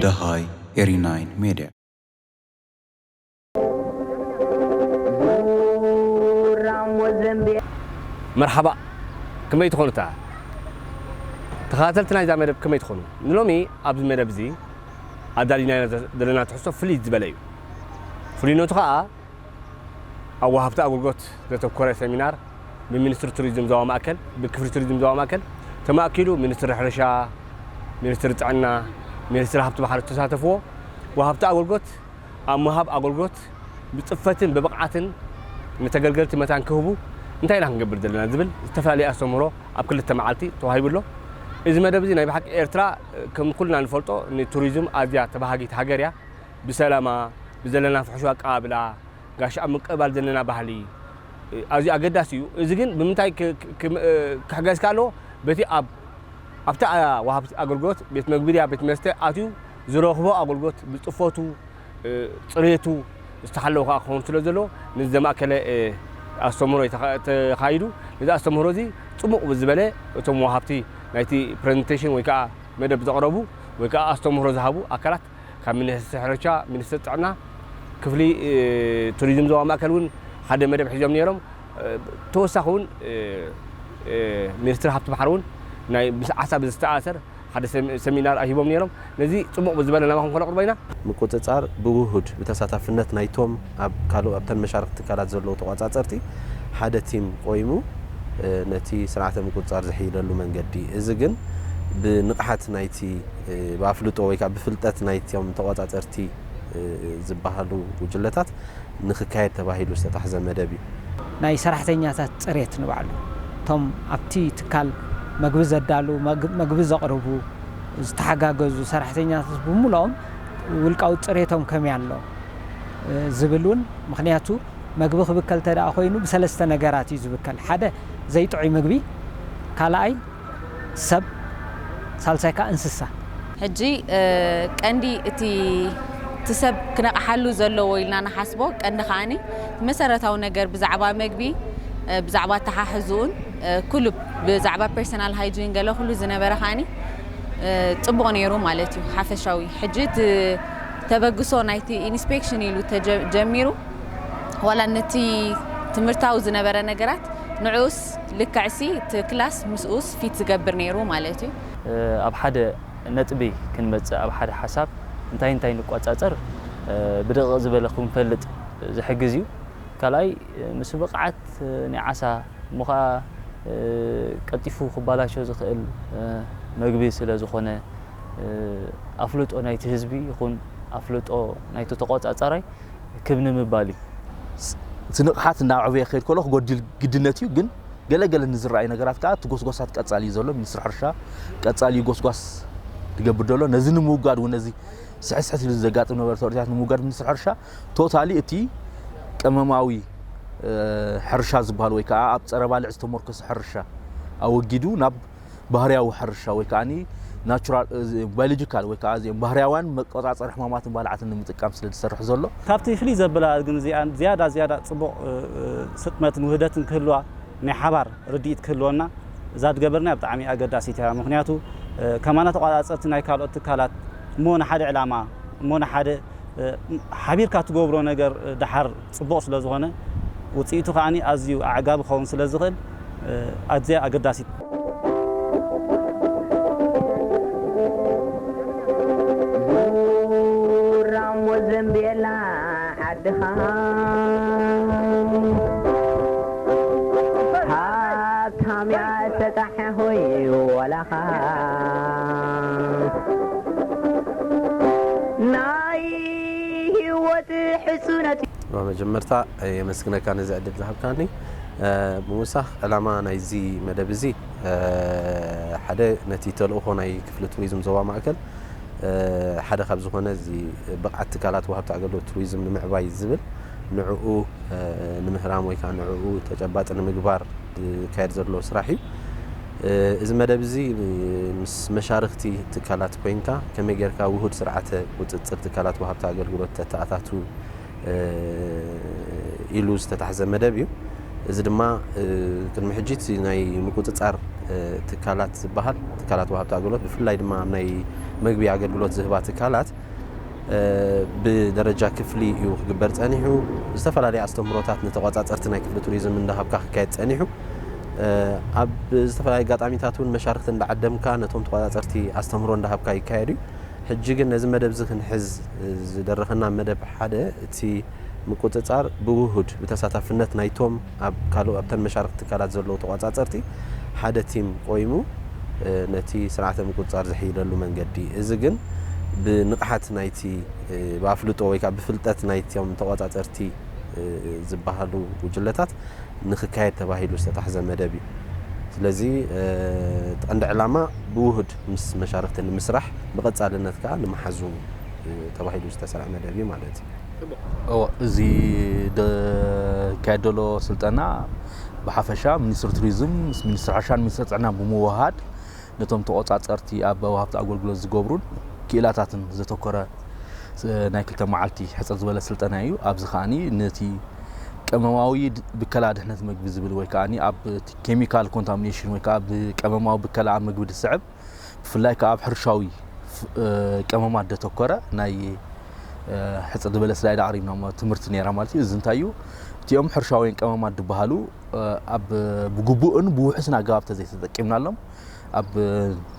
ደሃይ ኤሪ ናይን ሜድያ መርሓባእ ከመይ ትኾኑ እታ ተኸታተልቲ ናይዛ መደብ ከመይ ትኾኑ ንሎሚ ኣብዚ መደብ እዚ ኣዳሊናዮ ዘለና ትሕዝቶ ፍልይ ዝበለ እዩ ፍሉይነቱ ከዓ ኣብ ወሃብቲ ኣገልግሎት ዘተኮረ ሰሚናር ብሚኒስትሪ ቱሪዝም ዞባ ማእከል፣ ብክፍሊ ቱሪዝም ዞባ ማእከል ተማእኪሉ ሚኒስትሪ ሕርሻ፣ ሚኒስትሪ ጥዕና፣ ሚኒስትሪ ሃብቲ ባሕሪ ዝተሳተፍዎ ወሃብቲ ኣገልግሎት ኣብ ምሃብ ኣገልግሎት ብፅፈትን ብብቕዓትን ንተገልገልቲ መታን ክህቡ እንታይ ኢና ክንገብር ዘለና ዝብል ዝተፈላለየ ኣስተምህሮ ኣብ ክልተ መዓልቲ ተዋሂቡ ኣሎ። እዚ መደብ እዚ ናይ ብሓቂ ኤርትራ ከም ኩልና ንፈልጦ ንቱሪዝም ኣዝያ ተባሃጊት ሃገር እያ። ብሰላማ ብዘለና ፍሕሹው ኣቀባብላ ጋሽ ኣብ ምቅብባል ዘለና ባህሊ ኣዝዩ ኣገዳሲ እዩ። እዚ ግን ብምንታይ ክሕገዝ ክኣ ኣለዎ በቲ ኣብ ኣብቲ ወሃብቲ ኣገልግሎት ቤት መግቢ ድያ ቤት መስተ ኣትዩ ዝረኽቦ ኣገልግሎት ብልጥፈቱ ጽሬቱ ዝተሓለወ ክኣ ክኸውን ስለ ዘለዎ ነዚ ዘማእከለ ኣስተምህሮ ተኻይዱ ነዚ ኣስተምህሮ እዚ ጽቡቕ ብዝበለ እቶም ወሃብቲ ናይቲ ፕረዘንተሽን ወይ ክኣ መደብ ዘቕረቡ ወይ ክኣ ኣስተምህሮ ዝሃቡ ኣካላት ካብ ሚኒስቲ ሕርሻ፣ ሚኒስቲ ጥዕና፣ ክፍሊ ቱሪዝም ዞባ ማእከል እውን ሓደ መደብ ሒዞም ነይሮም። ተወሳኺ እውን ሚኒስትሪ ሃብቲ ባሕሪ እውን ናይ ምስ ዓሳ ብዝተኣሰር ሓደ ሰሚናር ሂቦም ነይሮም። ነዚ ፅቡቕ ብዝበለ ናባኹም ከነቕርቦ ኢና። ምቁፅፃር ብውሁድ ብተሳታፍነት ናይቶም ኣብ ካልእ ኣብተን መሻርኽቲ ትካላት ዘለዉ ተቋፃፀርቲ ሓደ ቲም ቆይሙ ነቲ ስርዓተ ምቁፅፃር ዝሕይለሉ መንገዲ እዚ ግን ብንቕሓት ናይቲ ብኣፍልጦ ወይ ከዓ ብፍልጠት ናይቶም ተቖፃፀርቲ ዝበሃሉ ጉጅለታት ንክካየድ ተባሂሉ ዝተታሕዘ መደብ እዩ። ናይ ሰራሕተኛታት ፅሬት ንባዕሉ እቶም ኣብቲ ትካል መግቢ ዘዳልው፣ መግቢ ዘቕርቡ፣ ዝተሓጋገዙ ሰራሕተኛታት ብሙሉኦም ውልቃዊ ፅሬቶም ከመይ ኣሎ ዝብል እውን ምኽንያቱ መግቢ ክብከል እንተድኣ ኮይኑ ብሰለስተ ነገራት እዩ ዝብከል ሓደ ዘይጥዑይ ምግቢ ካልኣይ ሰብ ሳልሳይ ከኣ እንስሳ። ሕጂ ቀንዲ እቲ እቲ ሰብ ክነቕሓሉ ዘለዎ ኢልና ንሓስቦ ቀንዲ ከኣ መሰረታዊ ነገር ብዛዕባ መግቢ ብዛዕባ ኣተሓሕዝኡን ኩሉ ብዛዕባ ፐርሰናል ሃይጂን ገለ ኩሉ ዝነበረ ከኣ ጽቡቕ ኔሩ ማለት እዩ ሓፈሻዊ ሕጂ እቲ ተበግሶ ናይቲ ኢንስፔክሽን ኢሉ ጀሚሩ ዋላ ነቲ ትምህርታዊ ዝነበረ ነገራት ንዑኡስ ፊት ልክዕሲ እቲ ክላስ ምስኡስ ፊት ዝገብር ነይሩ ማለት እዩ። ኣብ ሓደ ነጥቢ ክንመጽእ ኣብ ሓደ ሓሳብ እንታይ እንታይ ንቆጻጸር ብደቂቕ ዝበለ ክንፈልጥ ዝሕግዝ እዩ። ካልኣይ ምስ ብቕዓት ናይ ዓሳ እሞ ከኣ ቀልጢፉ ክባላሾ ዝኽእል መግቢ ስለ ዝኾነ ኣፍልጦ ናይቲ ህዝቢ ይኹን ኣፍልጦ ናይቲ ተቆጻጻራይ ክብ ንምባል እዩ። እቲ ንቕሓት እናዕበየ ክኸይድ ከሎ ክጎድል ግድነት እዩ፣ ግን ገለ ገለ ንዝረኣዩ ነገራት ከኣ እቲ ጎስጓሳት ቀጻሊ እዩ ዘሎ። ሚኒስትሪ ሕርሻ ቀጻሊ እዩ ጎስጓስ ዝገብር ዘሎ። ነዚ ንምውጋድ እውን ነዚ ስሕስሕት ኢሉ ዘጋጥም ነበረ ተርእታት ንምውጋድ ሚኒስትሪ ሕርሻ ቶታሊ እቲ ቀመማዊ ሕርሻ ዝበሃል ወይ ከኣ ኣብ ጸረ ባልዕ ዝተመርኮሰ ሕርሻ ኣወጊዱ ናብ ባህርያዊ ሕርሻ ወይ ከኣ ናቹራል ባዮሎጂካል ወይ ከኣ እዚኦም ባህርያውያን መቆጻጸሪ ሕማማትን ባልዓትን ንምጥቃም ስለ ዝሰርሕ ዘሎ ካብቲ ፍልይ ዘብላ ግን እዚኣን ዝያዳ ዝያዳ ጽቡቕ ስጥመትን ውህደትን ክህልዋ ናይ ሓባር ርድኢት ክህልወና እዛ ድገበርናያ ብጣዕሚ ኣገዳሲት እያ ምኽንያቱ ከማና ተቋጻጸርቲ ናይ ካልኦት ትካላት እሞ ንሓደ ዕላማ እሞ ንሓደ ሓቢርካ ትገብሮ ነገር ደሓር ጽቡቕ ስለ ዝኾነ ውጽኢቱ ከኣ ኣዝዩ ኣዕጋቢ ክኸውን ስለ ዝኽእል ኣዝያ ኣገዳሲት። ዙራሞ ዘምቤላ ዓድኻ ሃብታምያ ሰጣሕ ሆይ ወላኻ ናይ ሂወት ሕጹነት እዩ። ብመጀመርታ የመስግነካ ነዚ ዕድል ዝሃብካኒ። ብምውሳኽ ዕላማ ናይዚ መደብ እዚ ሓደ ነቲ ተልእኾ ናይ ክፍሊ ቱሪዝም ዞባ ማእከል ሓደ ካብ ዝኾነ እዚ ብቕዓት ትካላት ወሃብቲ ኣገልግሎት ቱሪዝም ንምዕባይ ዝብል ንዕኡ ንምህራም ወይ ከዓ ንዕኡ ተጨባጢ ንምግባር ዝካየድ ዘሎ ስራሕ እዩ። እዚ መደብ እዚ ምስ መሻርኽቲ ትካላት ኮይንካ ከመይ ጌርካ ውሁድ ስርዓተ ቁፅፅር ትካላት ወሃብቲ ኣገልግሎት ተተኣታቱ ኢሉ ዝተታሕዘ መደብ እዩ። እዚ ድማ ቅድሚ ሕጂ እቲ ናይ ምቁፅፃር ትካላት ዝበሃል ትካላት ወሃብቲ ኣገልግሎት ብፍላይ ድማ ኣብ ናይ መግቢ ኣገልግሎት ዝህባ ትካላት ብደረጃ ክፍሊ እዩ ክግበር ጸኒሑ። ዝተፈላለየ ኣስተምህሮታት ንተቖጻጸርቲ ናይ ክፍሊ ቱሪዝም እንዳሃብካ ክካየድ ጸኒሑ። ኣብ ዝተፈላለየ ኣጋጣሚታት እውን መሻርክቲ እንዳዓደምካ ነቶም ተቖጻጸርቲ ኣስተምህሮ እንዳሃብካ ይካየድ እዩ። ሕጂ ግን ነዚ መደብ እዚ ክንሕዝ ዝደረኸና መደብ ሓደ እቲ ምቁጽጻር ብውሁድ ብተሳታፍነት ናይቶም ኣብ ካልኦ ኣብተን መሻርኽቲ ትካላት ዘለዉ ተቋጻጸርቲ ሓደ ቲም ቆይሙ ነቲ ስርዓተ ምቁጽጻር ዝሕይለሉ መንገዲ እዚ ግን ብንቕሓት ናይቲ ብኣፍልጦ ወይ ከኣ ብፍልጠት ናይቶም ተቋጻጸርቲ ዝበሃሉ ጉጅለታት ንክካየድ ተባሂሉ ዝተታሕዘ መደብ እዩ። ስለዚ እቲ ቀንዲ ዕላማ ብውሁድ ምስ መሻርኽቲ ንምስራሕ ብቐጻልነት ከኣ ንምሓዙ ተባሂሉ ዝተሰርዐ መደብ እዩ ማለት እዩ። እዚ ዝካየድ ዘሎ ስልጠና ብሓፈሻ ሚኒስትሪ ቱሪዝም ምስ ሚኒስትሪ ሕርሻን ሚኒስትሪ ጥዕና ብምውሃድ ነቶም ተቆፃፀርቲ ኣብ ወሃብቲ ኣገልግሎት ዝገብሩን ክኢላታትን ዘተኮረ ናይ ክልተ መዓልቲ ሕፅር ዝበለ ስልጠና እዩ። ኣብዚ ከዓኒ ነቲ ቀመማዊ ብከላ ድሕነት ምግቢ ዝብል ወይ ከዓ ኣብ ኬሚካል ኮንታሚኔሽን ወይ ከዓ ብቀመማዊ ብከላ ኣብ ምግቢ ዝስዕብ ብፍላይ ከኣ ኣብ ሕርሻዊ ቀመማት ደተኮረ ናይ ሕጽ ድበለስ ዳይ ዳዕሪምና ትምህርቲ ነራ ማለት እዩ እዚ እንታይ እዩ እቲኦም ሕርሻውያን ቀመማት ድበሃሉ ኣብ ብግቡእን ብውሕስን ኣገባብ ተዘይተጠቂምናሎም ኣብ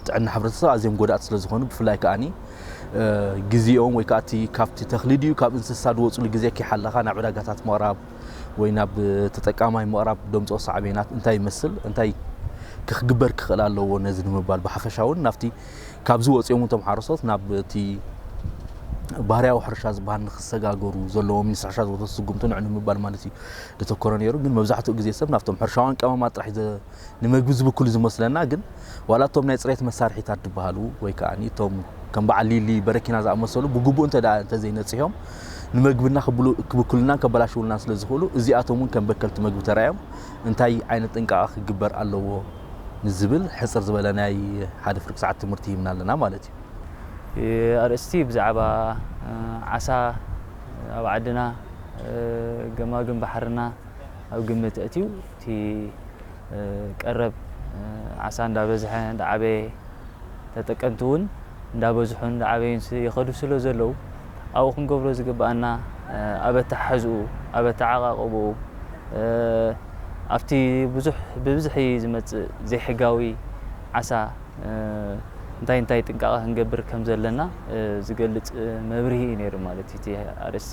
ጥዕና ሕብረተሰብ ኣዝዮም ጎዳእቲ ስለ ዝኾኑ ብፍላይ ከዓኒ ግዜኦም ወይ ከዓ እቲ ካብቲ ተኽሊ ድዩ ካብ እንስሳ ዝወፅሉ ግዜ ከይሓለኻ ናብ ዕዳጋታት ምቕራብ ወይ ናብ ተጠቃማይ ምቕራብ ደምፅኦ ሳዕቤናት እንታይ ይመስል እንታይ ክግበር ክኽእል ኣለዎ ነዚ ንምባል ብሓፈሻ እውን ናብቲ ካብዚ ወፂኦም እቶም ሓረስቶት ናብ እቲ ባህርያዊ ሕርሻ ዝበሃል ንክሰጋገሩ ዘለዎም ንስሕሻ ዝወሰዱ ስጉምቲ ንዕ ንምባል ማለት እዩ ዘተኮረ ነይሩ ግን መብዛሕትኡ ግዜ ሰብ ናብቶም ሕርሻውያን ቀመማት ጥራሕ ንመግቢ ዝብክሉ ዝመስለና ግን ዋላ እቶም ናይ ፅሬት መሳርሒታት ዝበሃሉ ወይ ከዓ እቶም ከም በዓል ሊሊ በረኪና ዝኣመሰሉ ብግቡእ እንተ እንተዘይነፅሆም ንመግብና ክብክሉናን ከበላሽውልናን ስለ ዝኽእሉ እዚኣቶም እውን ከም በከልቲ መግቢ ተራዮም እንታይ ዓይነት ጥንቃቐ ክግበር ኣለዎ ንዝብል ሕፅር ዝበለ ናይ ሓደ ፍርቂ ሰዓት ትምህርቲ ይህብና ኣለና ማለት እዩ ኣርእስቲ ብዛዕባ ዓሳ ኣብ ዓድና ገማግም ባሕርና ኣብ ግምት ኣእትዩ እቲ ቀረብ ዓሳ እንዳበዝሐ እንዳዓበየ ተጠቀምቲ እውን እንዳበዝሑን እንዳዓበዩን ይኸዱ ስለዘለዉ ኣብኡ ክንገብሮ ዝግበኣና ኣብ ኣተሓሕዝኡ፣ ኣብ ኣተዓቓቕብኡ፣ ኣብቲ ብዙሕ ብብዝሒ ዝመፅእ ዘይሕጋዊ ዓሳ እንታይ እንታይ ጥንቃቐ ክንገብር ከምዘለና ዝገልፅ መብርሂ እዩ ነይሩ ማለት እዩ እቲ ኣርእስቲ።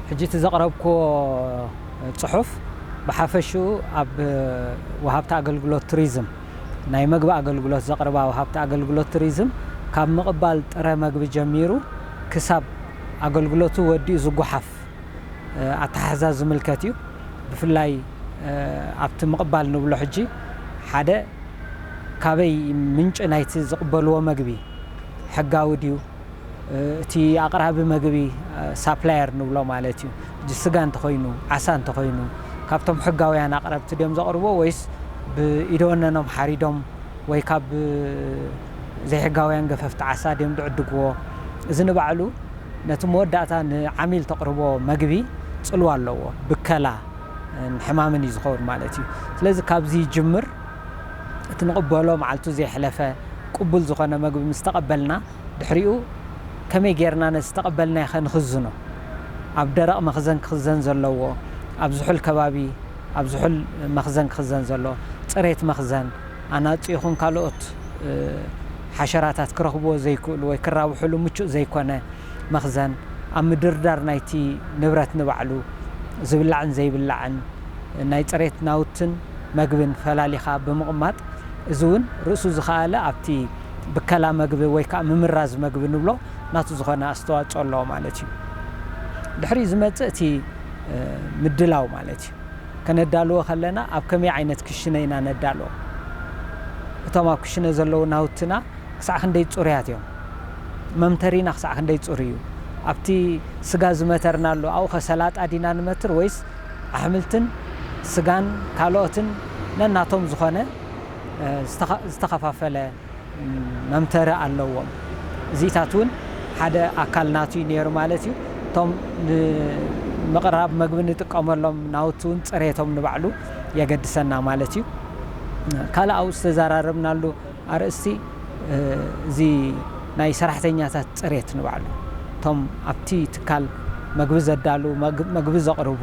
ሕጂ እቲ ዘቕረብክዎ ጽሑፍ ብሓፈሽኡ ኣብ ወሃብቲ ኣገልግሎት ቱሪዝም፣ ናይ መግቢ ኣገልግሎት ዘቕርባ ወሃብቲ ኣገልግሎት ቱሪዝም ካብ ምቕባል ጥረ መግቢ ጀሚሩ ክሳብ ኣገልግሎቱ ወዲኡ ዝጎሓፍ ኣተሓሕዛ ዝምልከት እዩ። ብፍላይ ኣብቲ ምቕባል ንብሎ ሕጂ ሓደ ካበይ ምንጪ ናይቲ ዝቕበልዎ መግቢ ሕጋዊ ድዩ? እቲ ኣቕራቢ መግቢ፣ ሳፕላየር ንብሎ ማለት እዩ፣ ስጋ እንተኾይኑ፣ ዓሳ እንተኾይኑ፣ ካብቶም ሕጋውያን ኣቕረብቲ ድዮም ዘቕርብዎ ወይስ ብኢደወነኖም ሓሪዶም ወይ ካብ ዘይሕጋውያን ገፈፍቲ ዓሳ ድዮም ዝዕድግዎ? እዚ ንባዕሉ ነቲ መወዳእታ ንዓሚል ተቕርቦ መግቢ ጽልዋ ኣለዎ፣ ብከላ ን ሕማምን እዩ ዝኸውን ማለት እዩ። ስለዚ ካብዚ ይጅምር። እቲ ንቕበሎ መዓልቱ ዘይሕለፈ ቅቡል ዝኾነ መግቢ ምስ ተቐበልና ድሕሪኡ ከመይ ጌርና ነቲ ዝተቐበልናዮኸ ንኽዝኖ? ኣብ ደረቕ መኽዘን ክኽዘን ዘለዎ? ኣብ ዝሑል ከባቢ? ኣብ ዝሑል መኽዘን ክኽዘን ዘለዎ ጽሬት መኽዘን ኣናጹ ይኹን ካልኦት ሓሸራታት ክረኽብዎ ዘይክእሉ ወይ ክራብሑሉ ምቹእ ዘይኮነ መኽዘን ኣብ ምድርዳር ናይቲ ንብረት ንባዕሉ ዝብላዕን ዘይብላዕን ናይ ጽሬት ናውትን መግብን ፈላሊኻ ብምቕማጥ፣ እዚ እውን ርእሱ ዝኸኣለ ኣብቲ ብከላ መግቢ ወይ ከኣ ምምራዝ መግቢ ንብሎ ናቱ ዝኾነ ኣስተዋጽኦ ኣለዎ ማለት እዩ። ድሕሪኡ ዝመጽእ እቲ ምድላው ማለት እዩ። ከነዳልዎ ከለና ኣብ ከመይ ዓይነት ክሽነ ኢና ነዳልዎ? እቶም ኣብ ክሽነ ዘለዉ ናውትና ክሳዕ ክንደይ ጽሩያት እዮም? መምተሪና ክሳዕ ክንደይ ጽሩይ እዩ? ኣብቲ ስጋ ዝመተርናሉ ኣብኡኸ ሰላጣ ዲና ንመትር ወይስ ኣሕምልትን ስጋን ካልኦትን ነናቶም ዝኾነ ዝተኸፋፈለ መምተሪ ኣለዎም። እዚታት እውን ሓደ ኣካል ናቱ እዩ ነይሩ ማለት እዩ። እቶም ንምቕራብ መግቢ ንጥቀመሎም ናውቲ እውን ፅሬቶም ንባዕሉ የገድሰና ማለት እዩ። ካልእ ኣብኡ ዝተዘራረብናሉ ኣርእስቲ እዚ ናይ ሰራሕተኛታት ፅሬት ንባዕሉ እቶም ኣብቲ ትካል መግቢ ዘዳልው፣ መግቢ ዘቕርቡ፣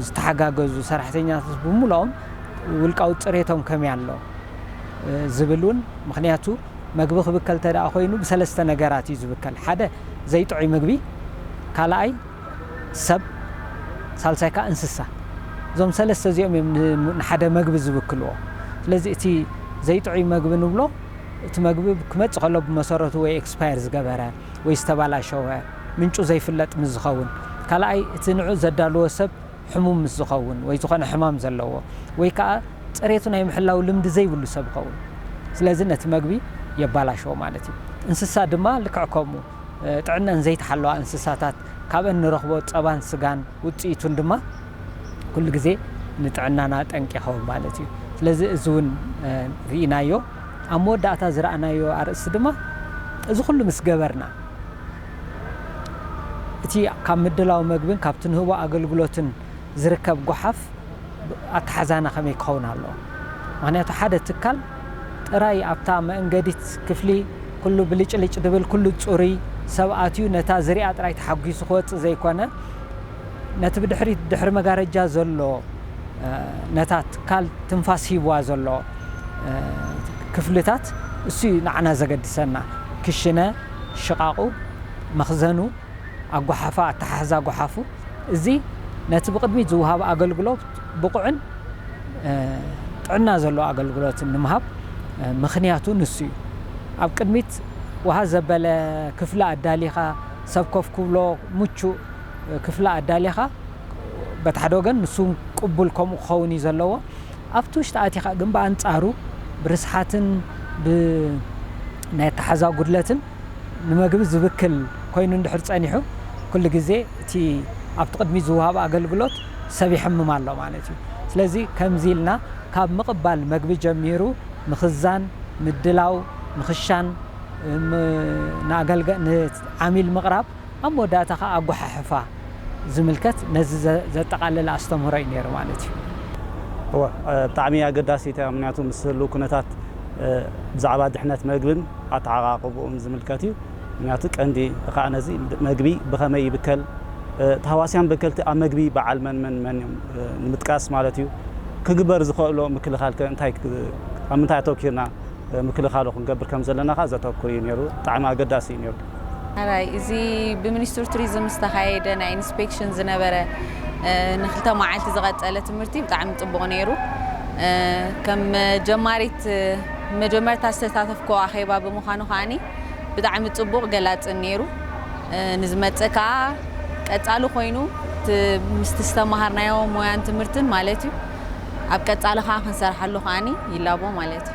ዝተሓጋገዙ ሰራሕተኛታት ብሙሉኦም ውልቃዊ ፅሬቶም ከመይ ኣሎ ዝብል እውን ምኽንያቱ መግቢ ክብከል እንተድኣ ኮይኑ ብሰለስተ ነገራት እዩ ዝብከል ሓደ ዘይጥዑይ ምግቢ ካልኣይ ሰብ ሳልሳይ ከኣ እንስሳ እዞም ሰለስተ እዚኦም እዮም ንሓደ መግቢ ዝብክልዎ ስለዚ እቲ ዘይጥዑይ መግቢ ንብሎ እቲ መግቢ ክመጽእ ከሎ ብመሰረቱ ወይ ኤክስፓየር ዝገበረ ወይ ዝተባላሸወ ምንጩ ዘይፍለጥ ምስ ዝኸውን ካልኣይ እቲ ንዑ ዘዳልዎ ሰብ ሕሙም ምስ ዝኸውን ወይ ዝኾነ ሕማም ዘለዎ ወይ ከኣ ጽሬቱ ናይ ምሕላው ልምዲ ዘይብሉ ሰብ ይኸውን ስለዚ ነቲ መግቢ የባላሽዎ ማለት እዩ እንስሳ ድማ ልክዕ ከምኡ ጥዕነኣን ዘይተሓለዋ እንስሳታት ካብኣን ንረኽቦ ጸባን ስጋን ውጽኢቱን ድማ ኩሉ ግዜ ንጥዕናና ጠንቂ ይኸውን ማለት እዩ። ስለዚ እዚ እውን ርኢናዮ። ኣብ መወዳእታ ዝረኣናዮ ኣርእስቲ ድማ እዚ ኩሉ ምስ ገበርና እቲ ካብ ምድላው መግብን ካብቲ ንህቦ ኣገልግሎትን ዝርከብ ጎሓፍ ኣተሓዛና ከመይ ክኸውን ኣለዎ? ምክንያቱ ሓደ ትካል ጥራይ ኣብታ መእንገዲት ክፍሊ ኩሉ ብልጭልጭ ድብል ኩሉ ጽሩይ ሰብ ኣትዩ ነታ ዝሪኣ ጥራይ ተሓጒሱ ክወጽእ ዘይኮነ ነቲ ብድሕሪት ድሕሪ መጋረጃ ዘሎ ነታ ትካል ትንፋስ ሂብዋ ዘሎ ክፍልታት እሱዩ ንዓና ዘገድሰና ክሽነ ሽቓቑ መኽዘኑ ኣጓሓፋ ኣተሓሕዛ ጎሓፉ እዚ ነቲ ብቕድሚት ዝውሃብ ኣገልግሎ ብቑዕን ጥዕና ዘለዎ ኣገልግሎትን ንምሃብ ምኽንያቱ ንሱ እዩ። ኣብ ቅድሚት ወሃ ዘበለ ክፍሊ ኣዳሊኻ፣ ሰብ ኮፍ ክብሎ ምቹእ ክፍሊ ኣዳሊኻ፣ በቲ ሓደ ወገን ንሱ እውን ቅቡል ከምኡ ክኸውን እዩ ዘለዎ። ኣብቲ ውሽጢ ኣቲኻ ግን ብኣንጻሩ ብርስሓትን ብናይ ኣተሓሕዛ ጉድለትን፣ ንመግቢ ዝብክል ኮይኑ እንድሕር ጸኒሑ ኩሉ ግዜ እቲ ኣብቲ ቅድሚት ዝወሃብ ኣገልግሎት ሰብ ይሕምም ኣሎ ማለት እዩ። ስለዚ ከምዚ ኢልና ካብ ምቕባል መግቢ ጀሚሩ ምኽዛን፣ ምድላው፣ ምኽሻን፣ ንዓሚል ምቕራብ፣ ኣብ መወዳእታ ከኣ ኣጎሓሕፋ ዝምልከት ነዚ ዘጠቓለለ ኣስተምህሮ እዩ ነይሩ ማለት እዩ። እወ ብጣዕሚ ኣገዳሲት እያ ምክንያቱ ምስ ህልው ኩነታት ብዛዕባ ድሕነት መግብን ኣተዓቓቕብኡን ዝምልከት እዩ ምክንያቱ ቀንዲ ከኣ ነዚ መግቢ ብኸመይ ይብከል ታህዋስያን በከልቲ ኣብ መግቢ በዓል መን መን መን እዮም ንምጥቃስ ማለት እዩ ክግበር ዝኸእሎ ምክልኻል ከ እንታይ ኣብ ምንታይ ኣተኪርና ምክልኻሉ ክንገብር ከም ዘለና ከኣ ዘተኩር እዩ ነይሩ ብጣዕሚ ኣገዳሲ እዩ ነይሩ። ሐራይ እዚ ብሚኒስትሪ ቱሪዝም ዝተኻየደ ናይ ኢንስፔክሽን ዝነበረ ንክልተ መዓልቲ ዝቐፀለ ትምህርቲ ብጣዕሚ ፅቡቕ ነይሩ። ከም ጀማሪት መጀመርታ ዝተሳተፍኩ ኣኼባ ብምዃኑ ከዓኒ ብጣዕሚ ፅቡቕ ገላፅን ነይሩ። ንዝመፅእ ከዓ ቀፃሊ ኮይኑ ምስቲ ዝተምሃርናዮ ሞያን ትምህርትን ማለት እዩ ኣብ ቀፃሊ ከዓ ክንሰርሓሉ ከዓኒ ይላቦ ማለት እዩ።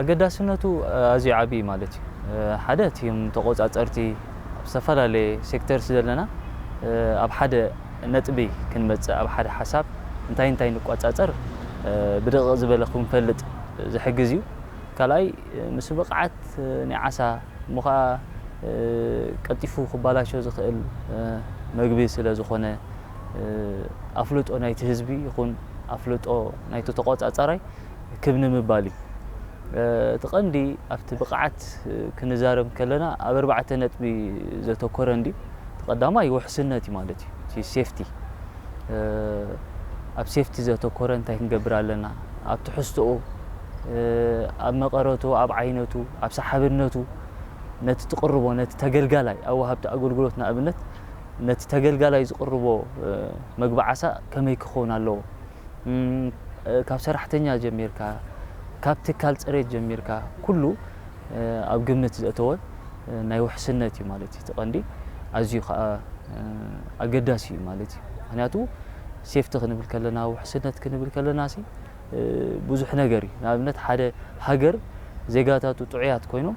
ኣገዳስነቱ ኣዝዩ ዓቢ እዩ ማለት እዩ። ሓደ እቲም ተቆጻጸርቲ ኣብ ዝተፈላለየ ሴክተር ስለዘለና ኣብ ሓደ ነጥቢ ክንመጽእ ኣብ ሓደ ሓሳብ እንታይ እንታይ ንቆጻጸር ብደቂቕ ዝበለ ክንፈልጥ ዝሕግዝ እዩ። ካልኣይ ምስ ብቕዓት ናይ ዓሳ እሞ ከኣ ቀልጢፉ ክባላሾ ዝኽእል መግቢ ስለዝኾነ ኣፍልጦ ናይቲ ህዝቢ ይኹን ኣፍልጦ ናይቲ ተቆጻጻራይ ክብ ንምባል እዩ። እቲ ቀንዲ ኣብቲ ብቕዓት ክንዛረብ ከለና ኣብ ኣርባዕተ ነጥቢ ዘተኮረ እንድዩ። እቲ ቀዳማይ ውሕስነት እዩ ማለት እዩ። እቲ ሴፍቲ ኣብ ሴፍቲ ዘተኮረ እንታይ ክንገብር ኣለና ኣብ ትሕዝቶኡ ኣብ መቐረቱ ኣብ ዓይነቱ ኣብ ሰሓብነቱ ነቲ ትቕርቦ ነቲ ተገልጋላይ ኣብ ወሃብቲ ኣገልግሎት ንኣብነት ነቲ ተገልጋላይ ዝቕርቦ መግቢ ዓሳ ከመይ ክኸውን ኣለዎ ካብ ሰራሕተኛ ጀሚርካ ካብ ትካል ፅሬት ጀሚርካ ኩሉ ኣብ ግምት ዘእተወ ናይ ውሕስነት እዩ ማለት እዩ እቲ ቀንዲ ኣዝዩ ከዓ ኣገዳሲ እዩ ማለት እዩ ምክንያቱ ሴፍቲ ክንብል ከለና ውሕስነት ክንብል ከለና ሲ ብዙሕ ነገር እዩ ንኣብነት ሓደ ሃገር ዜጋታቱ ጥዑያት ኮይኖም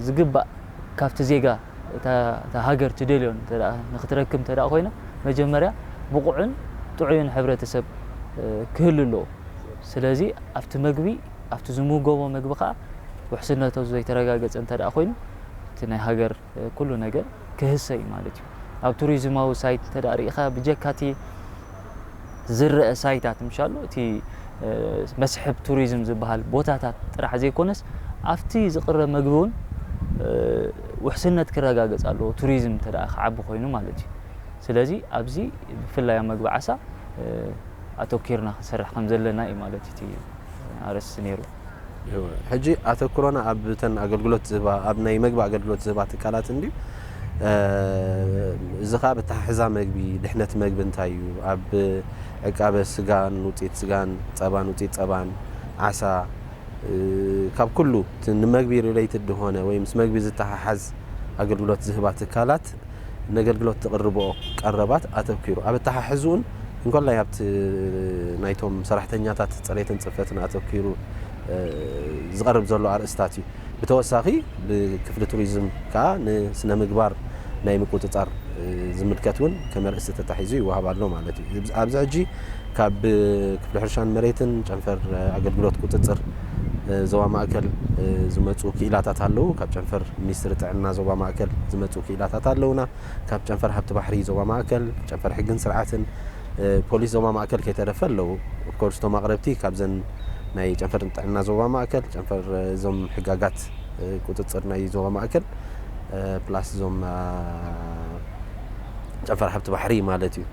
ዝግባእ ካብቲ ዜጋ እታ ሃገር ትደልዮ እንተ ንክትረክብ እንተ ኮይና መጀመርያ ብቑዕን ጥዑይን ሕብረተሰብ ክህሉ ኣለዎ። ስለዚ ኣብቲ መግቢ ኣብቲ ዝምገቦ መግቢ ከኣ ውሕስነቶ ዘይተረጋገጸ እንተ ኮይኑ እቲ ናይ ሃገር ኩሉ ነገር ክህሰ እዩ ማለት እዩ። ኣብ ቱሪዝማዊ ሳይት እንተ ርኢኻ ብጀካ እቲ ዝረኣ ሳይታት ምሻሉ እቲ መስሕብ ቱሪዝም ዝበሃል ቦታታት ጥራሕ ዘይኮነስ ኣብቲ ዝቕረብ መግቢ እውን ውሕስነት ክረጋገፅ ኣለዎ ቱሪዝም እንተ ክዓቢ ኮይኑ ማለት እዩ። ስለዚ ኣብዚ ብፍላይ ኣብ መግቢ ዓሳ ኣተኪርና ክንሰርሕ ከም ዘለና እዩ ማለት እቲ ኣርእስቲ ነይሩ። እወ ሕጂ ኣተኩሮና ኣብ ተን ኣገልግሎት ዝህባ ኣብ ናይ መግቢ ኣገልግሎት ዝህባ ትካላት እንድዩ እዚ ከኣ ብኣተሓሕዛ መግቢ ድሕነት መግቢ እንታይ እዩ ኣብ ዕቃበ ስጋን ውጽኢት ስጋን ጸባን ውጽኢት ጸባን ዓሳ ካብ ኩሉ እቲ ንመግቢ ሪለይትድ ዝኮነ ወይ ምስ መግቢ ዝተሓሓዝ ኣገልግሎት ዝህባ ትካላት ነገልግሎት ዝቕርብኦ ቀረባት ኣተኪሩ ኣብ ኣተሓሕዝኡን እንኮላይ ኣብቲ ናይቶም ሰራሕተኛታት ፅሬትን ፅፈትን ኣተኪሩ ዝቐርብ ዘሎ ኣርእስታት እዩ። ብተወሳኺ ብክፍሊ ቱሪዝም ከዓ ንስነ ምግባር ናይ ምቁፅፃር ዝምልከት እውን ከም ኣርእስቲ ተታሒዙ ይወሃብ ኣሎ ማለት እዩ። ኣብዚ ሕጂ ካብ ክፍሊ ሕርሻን መሬትን ጨንፈር ኣገልግሎት ቁፅፅር ዞባ ማእከል ዝመፁ ክኢላታት ኣለዉ። ካብ ጨንፈር ሚኒስትሪ ጥዕና ዞባ ማእከል ዝመፁ ክኢላታት ኣለዉና። ካብ ጨንፈር ሃብቲ ባሕሪ ዞባ ማእከል፣ ጨንፈር ሕግን ስርዓትን፣ ፖሊስ ዞባ ማእከል ከይተረፈ ኣለዉ። ኦፍኮርስ እቶም ኣቕረብቲ ካብዘን ናይ ጨንፈር ጥዕና ዞባ ማእከል፣ ጨንፈር እዞም ሕጋጋት ቁፅፅር ናይ ዞባ ማእከል ፕላስ እዞም ጨንፈር ሃብቲ ባሕሪ ማለት እዩ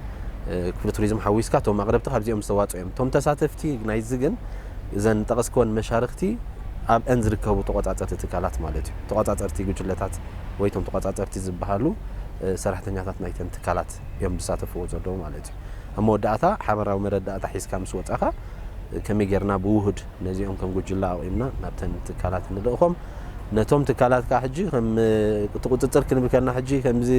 ክፍሊ ቱሪዝም ሓዊስካ እቶም ኣቕረብቲ ካብዚኦም ዝተዋፅኡ እዮም። እቶም ተሳተፍቲ ናይዚ ግን እዘን ዝጠቐስክወን መሻርኽቲ ኣብአን ዝርከቡ ተቖፃፀርቲ ትካላት ማለት እዩ። ተቖፃፀርቲ ጉጅለታት ወይ እቶም ተቖፃፀርቲ ዝበሃሉ ሰራሕተኛታት ናይተን ትካላት እዮም ዝሳተፍዎ ዘለዉ ማለት እዩ። ኣብ መወዳእታ ሓበራዊ መረዳእታ ሒዝካ ምስ ወፃኻ ከመይ ጌርና ብውሁድ ነዚኦም ከም ጉጅለ ኣቑምና ናብተን ትካላት ንልእኾም። ነቶም ትካላት ከዓ ሕጂ ከም እቲ ቁፅፅር ክንብል ከለና ሕጂ ከምዚ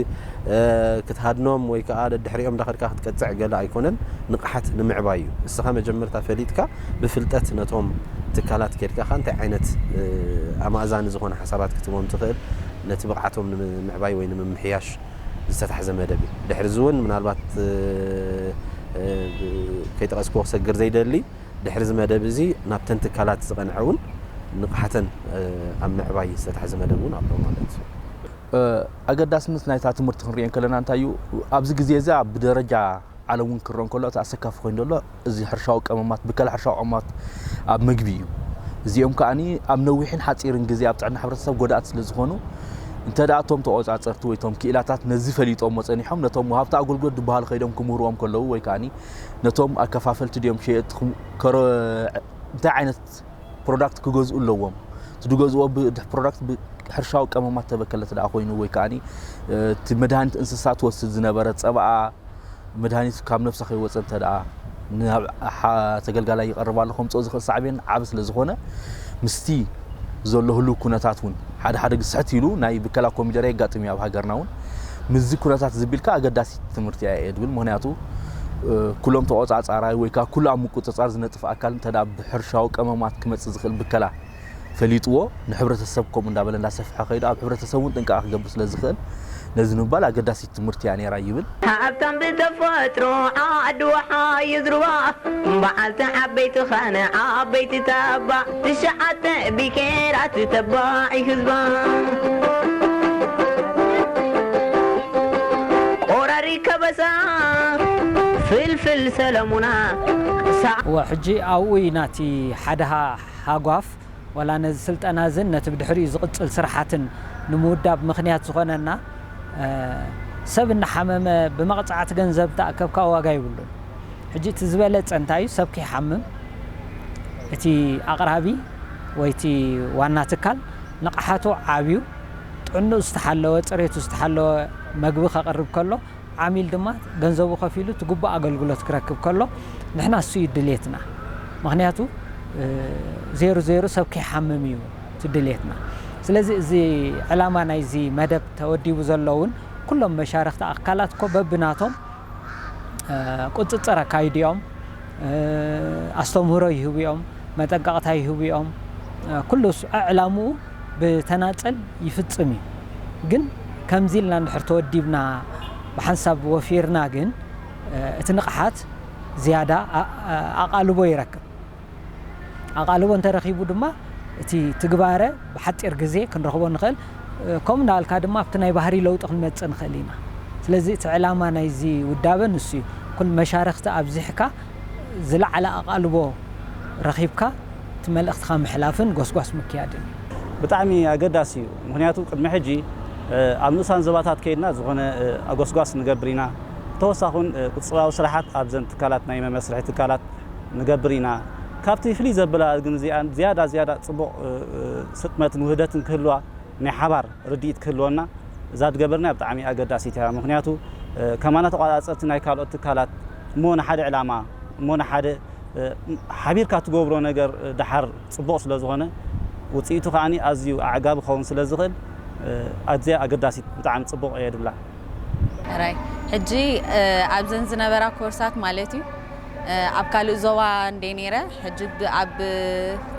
ክትሃድኖም ወይ ከዓ ደድሕሪኦም እንዳኸድካ ክትቀፅዕ ገለ ኣይኮነን፣ ንቕሓት ንምዕባይ እዩ። ንስኻ መጀመርታ ፈሊጥካ ብፍልጠት ነቶም ትካላት ኬድካ ከዓ እንታይ ዓይነት ኣማእዛኒ ዝኾነ ሓሳባት ክትህቦም ትኽእል ነቲ ብቕዓቶም ንምዕባይ ወይ ንምምሕያሽ ዝተታሕዘ መደብ እዩ። ድሕሪ እዚ እውን ምናልባት ከይጠቐስክዎ ክሰግር ዘይደሊ፣ ድሕሪ እዚ መደብ እዚ ናብተን ትካላት ዝቐንዐ እውን ንቕሓተን ኣብ ምዕባይ ዝተታሕዘ መደብ እውን ኣሎ ማለት እዩ። ኣገዳስነት ናይታ ትምህርቲ ክንሪኦ እንከለና እንታይ እዩ ኣብዚ ግዜ እዚ ኣብ ብደረጃ ዓለም እውን ክረኦ እንከሎ እቲ ኣሰካፊ ኮይኑ ዘሎ እዚ ሕርሻዊ ቀመማት ብከላ ሕርሻዊ ቀመማት ኣብ ምግቢ እዩ። እዚኦም ከኣ ኣብ ነዊሕን ሓፂርን ግዜ ኣብ ጥዕና ሕብረተሰብ ጎዳእቲ ስለ ዝኾኑ እንተ ደኣ እቶም ተቖፃፀርቲ ወይ እቶም ክኢላታት ነዚ ፈሊጦሞ ፀኒሖም ነቶም ወሃብቲ ኣገልግሎት ዝበሃሉ ከይዶም ክምህርዎም ከለዉ ወይ ከኣ ነቶም ኣከፋፈልቲ ድዮም ሸየጥትኩም ከሮ እንታይ ዓይነት ፕሮዳክት ክገዝኡ ኣለዎም ትድገዝዎ ፕሮዳክት ሕርሻዊ ቀመማት ተበከለት ደኣ ኮይኑ ወይ ከዓኒ እቲ መድሃኒት እንስሳ ትወስድ ዝነበረ ፀባኣ መድሃኒት ካብ ነብሳ ከይወፀ እንተ ደኣ ተገልጋላይ ይቐርብ ኣሎ ከምፅኦ ዝኽእል ሳዕቤን ዓብ ስለ ዝኾነ ምስቲ ዘሎ ህልው ኩነታት እውን ሓደ ሓደ ግስሕት ኢሉ ናይ ብከላ ኮሚደረ የጋጥም እዩ ኣብ ሃገርና እውን ምስዚ ኩነታት ዝቢልካ ኣገዳሲ ትምህርቲ ኣየ ድብል ምክንያቱ ኩሎም ተቆጻጻራይ ወይ ከዓ ኩሉ ኣብ ምቁጽጻር ዝነጥፍ ኣካል እንተ ብሕርሻዊ ቀመማት ክመጽእ ዝኽእል ብከላ ፈሊጥዎ ንሕብረተሰብ ከምኡ እንዳበለ እንዳሰፍሐ ከይዱ ኣብ ሕብረተሰብ እውን ጥንቃቐ ክገብር ስለ ዝኽእል ነዚ ንምባል ኣገዳሲት ትምህርቲ እያ ነይራ ይብል። ሃብታም ብተፈጥሮ ዓዲ ወሓ ይዝርዋ በዓልቲ ዓበይቲ ኸነ ዓበይቲ ተባዕ ትሽዓተ ቢሄራት ተባዕ ህዝባ ወራሪ ከበሳ ፍልፍል ሰለሙና። እወ ሕጂ ኣብኡ እዩ ናቲ ሓደ ሃጓፍ ዋላ ነዚ ስልጠና እዝን ነቲ ብድሕሪኡ ዝቕጽል ስርሓትን ንምውዳብ ምኽንያት ዝኾነና ሰብ እናሓመመ ብመቕጻዕቲ ገንዘብ እንተኣከብካ ዋጋ የብሉን። ሕጂ እቲ ዝበለጸ እንታይ እዩ ሰብ ከይሓምም እቲ ኣቕራቢ ወይ እቲ ዋና ትካል ንቕሓቱ ዓብዩ ጥዕንኡ ዝተሓለወ ጽሬቱ ዝተሓለወ መግቢ ከቕርብ ከሎ ዓሚል ድማ ገንዘቡ ከፊሉ እቲ ግቡእ ኣገልግሎት ክረክብ ከሎ ንሕና እሱ እዩ ድሌትና ምኽንያቱ ዜሩ ዜሩ ሰብ ከይሓምም እዩ እቲ ድሌትና ስለዚ እዚ ዕላማ ናይዚ መደብ ተወዲቡ ዘሎ እውን ኩሎም መሻርኽቲ ኣካላት እኮ በብናቶም ቁፅፅር ኣካይዲኦም ኣስተምህሮ ይህቡዮም መጠንቀቕታ ይህቡዮም ኩሉ ዕላምኡ ብተናፀል ይፍፅም እዩ ግን ከምዚ ኢልና እንድሕር ተወዲብና ብሓንሳብ ወፊርና ግን እቲ ንቕሓት ዝያዳ ኣቓልቦ ይረክብ። ኣቓልቦ እንተ ረኺቡ ድማ እቲ ትግባረ ብሓጺር ግዜ ክንረኽቦ ንኽእል። ከምኡ እናበልካ ድማ ኣብቲ ናይ ባህርይ ለውጢ ክንመጽእ ንኽእል ኢና። ስለዚ እቲ ዕላማ ናይዚ ውዳበ ንሱ እዩ። ኩል መሻርኽቲ ኣብዚሕካ ዝለዓለ ኣቓልቦ ረኺብካ እቲ መልእኽትኻ ምሕላፍን ጎስጓስ ምክያድን እዩ። ብጣዕሚ ኣገዳሲ እዩ። ምኽንያቱ ቅድሚ ሕጂ ኣብ ንኡሳን ዞባታት ከይድና ዝኾነ ጎስጓስ ንገብር ኢና። ብተወሳኹን ቁጽጽራዊ ስራሓት ኣብዘን ትካላት ናይ መመስርሒ ትካላት፣ ንገብር ኢና። ካብቲ ፍልይ ዘብላ ግን እዚኣ ዝያዳ ዝያዳ ጽቡቕ ስጥመትን ውህደትን ክህልዋ ናይ ሓባር ርድኢት ክህልወና እዛ ዝገበርናያ ብጣዕሚ ኣገዳሲት እያ። ምኽንያቱ ከማና ተቛጻጸርቲ ናይ ካልኦት ትካላት እሞ ንሓደ ዕላማ እሞ ንሓደ ሓቢርካ ትገብሮ ነገር ደሓር ጽቡቕ ስለ ዝኾነ ውጽኢቱ ከኣ ኣዝዩ ኣዕጋቢ ክኸውን ስለ ዝኽእል ኣዝያ ኣገዳሲት ብጣዕሚ ጽቡቕ እየ ዝብላ። ሕራይ ሕጂ ኣብዘን ዝነበራ ኮርሳት ማለት እዩ። ኣብ ካልእ ዞባ እንዴ ነይረ ሕጂ ኣብ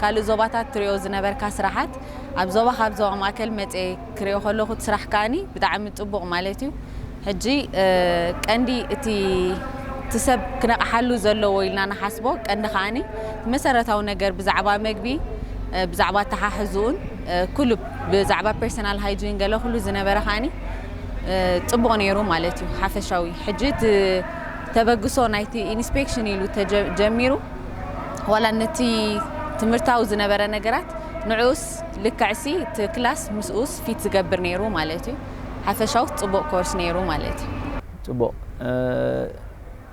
ካልእ ዞባታት ትሪኦ ዝነበርካ ስራሓት ኣብ ዞባካ ኣብ ዞባ ማእከል መጼ ክሪኦ ከለኩ እቲ ስራሕ ከኣኒ ብጣዕሚ ጽቡቅ ማለት እዩ ሕጂ ቀንዲ እቲ እቲ ሰብ ክነቅሓሉ ዘለዎ ኢልና ንሓስቦ ቀንዲ ከኣኒ መሰረታዊ ነገር ብዛዕባ መግቢ ብዛዕባ ኣተሓሕዝኡን ኩሉ ብዛዕባ ፐርሰናል ሃይጂን ገለ ኩሉ ዝነበረ ከኣኒ ጽቡቅ ነይሩ ማለት እዩ ሓፈሻዊ ሕጂ እቲ ተበግሶ ናይቲ ኢንስፔክሽን ኢሉ ተጀሚሩ ዋላ ነቲ ትምህርታዊ ዝነበረ ነገራት ንዑኡስ ልክዕሲ እቲ ክላስ ምስኡስ ፊት ዝገብር ነይሩ ማለት እዩ ሓፈሻዊ ጽቡቕ ኮርስ ነይሩ ማለት እዩ። ጽቡቕ።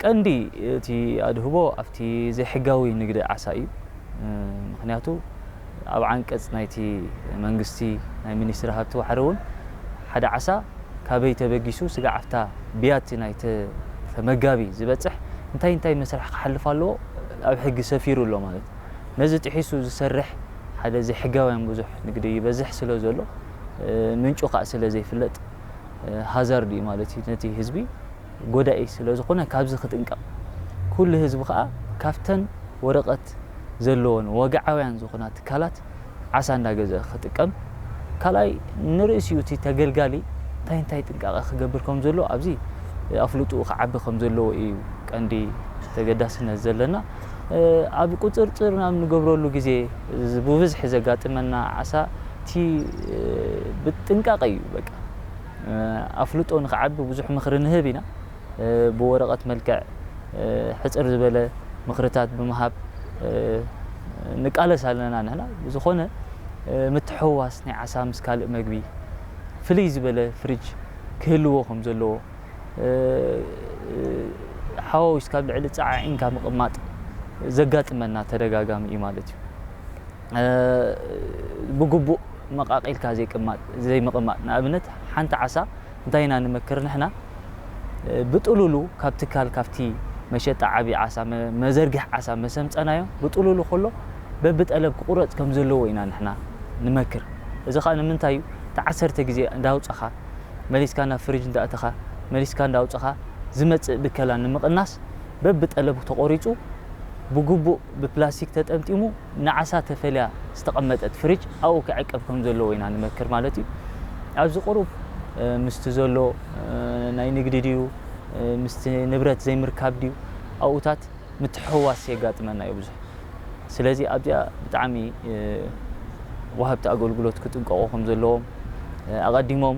ቀንዲ እቲ ኣድህቦ ኣብቲ ዘይሕጋዊ ንግዲ ዓሳ እዩ። ምኽንያቱ፣ ኣብ ዓንቀጽ ናይቲ መንግስቲ ናይ ሚኒስትሪ ሃብቲ ዋሕሪ እውን ሓደ ዓሳ ካበይ ተበጊሱ ስጋዕ ኣብታ ብያቲ ናይቲ ተመጋቢ ዝበጽሕ እንታይ እንታይ መስርሕ ክሓልፍ ኣለዎ ኣብ ሕጊ ሰፊሩ ኣሎ ማለት ነዚ ጥሒሱ ዝሰርሕ ሓደ ዘይሕጋውያን ብዙሕ ንግዲ ይበዝሕ ስለ ዘሎ ምንጩ ካእ ስለ ዘይፍለጥ ሃዛርድ እዩ ማለት እዩ ነቲ ህዝቢ ጎዳኢ ስለዝኾነ ካብዚ ክጥንቀቕ ኩሉ ህዝቢ ከኣ ካብተን ወረቐት ዘለወን ወግዓውያን ዝኾና ትካላት ዓሳ እንዳገዝኣ ክጥቀም ካልኣይ ንርእሲኡ እቲ ተገልጋሊ እንታይ እንታይ ጥንቃቐ ክገብር ከምዘለዎ ኣብዚ ኣፍልጥኡ ክዓቢ ከምዘለዎ ኢዩ ቀንዲ ተገዳስነት ዘለና ኣብ ቁጽርጽር ናብ ንገብረሉ ግዜ ብብዝሒ ዘጋጥመና ዓሳ እቲ ብጥንቃቐ ኢዩ በቃ ኣፍልጦ ንክዓቢ ብዙሕ ምኽሪ ንህብ ኢና። ብወረቐት መልክዕ ሕጽር ዝበለ ምኽርታት ብምሃብ ንቃለስ ኣለና ንሕና። ብዝኾነ ምትሕውዋስ ናይ ዓሳ ምስ ካልእ መግቢ ፍልይ ዝበለ ፍሪጅ ክህልዎ ከም ዘለዎ ሓዋዊስካ ኣብ ልዕሊ ጸዓዒንካ ምቕማጥ ዘጋጥመና ተደጋጋሚ እዩ ማለት እዩ። ብግቡእ መቓቒልካ ዘይምቕማጥ፣ ንኣብነት ሓንቲ ዓሳ እንታይ ኢና ንመክር ንሕና ብጥሉሉ ካብ ትካል ካብቲ መሸጣ ዓቢ ዓሳ መዘርግሒ ዓሳ መሰምጸናዮ ብጥሉሉ ከሎ በብጠለብ ክቑረጽ ከም ዘለዎ ኢና ንሕና ንመክር እዚ ከኣ ንምንታይ እዩ እቲ ዓሰርተ ግዜ እንዳውጸኻ መሊስካ ናብ ፍሪጅ እንዳእተኻ መሊስካ እንዳውጸኻ ዝመጽእ ብከላ ንምቕናስ በብጠለብ ተቖሪጹ ብግቡእ ብፕላስቲክ ተጠምጢሙ ንዓሳ ተፈልያ ዝተቐመጠት ፍሪጅ ኣብኡ ክዕቀብ ከም ዘለዎ ኢና ንመክር ማለት እዩ። ኣብዚ ቁሩብ ምስቲ ዘሎ ናይ ንግዲ ድዩ ምስቲ ንብረት ዘይምርካብ ድዩ ኣብኡታት ምትሕውዋስ የጋጥመና እዩ ብዙሕ ስለዚ ኣብዚኣ ብጣዕሚ ወሃብቲ ኣገልግሎት ክጥንቀቑ ከም ዘለዎም ኣቐዲሞም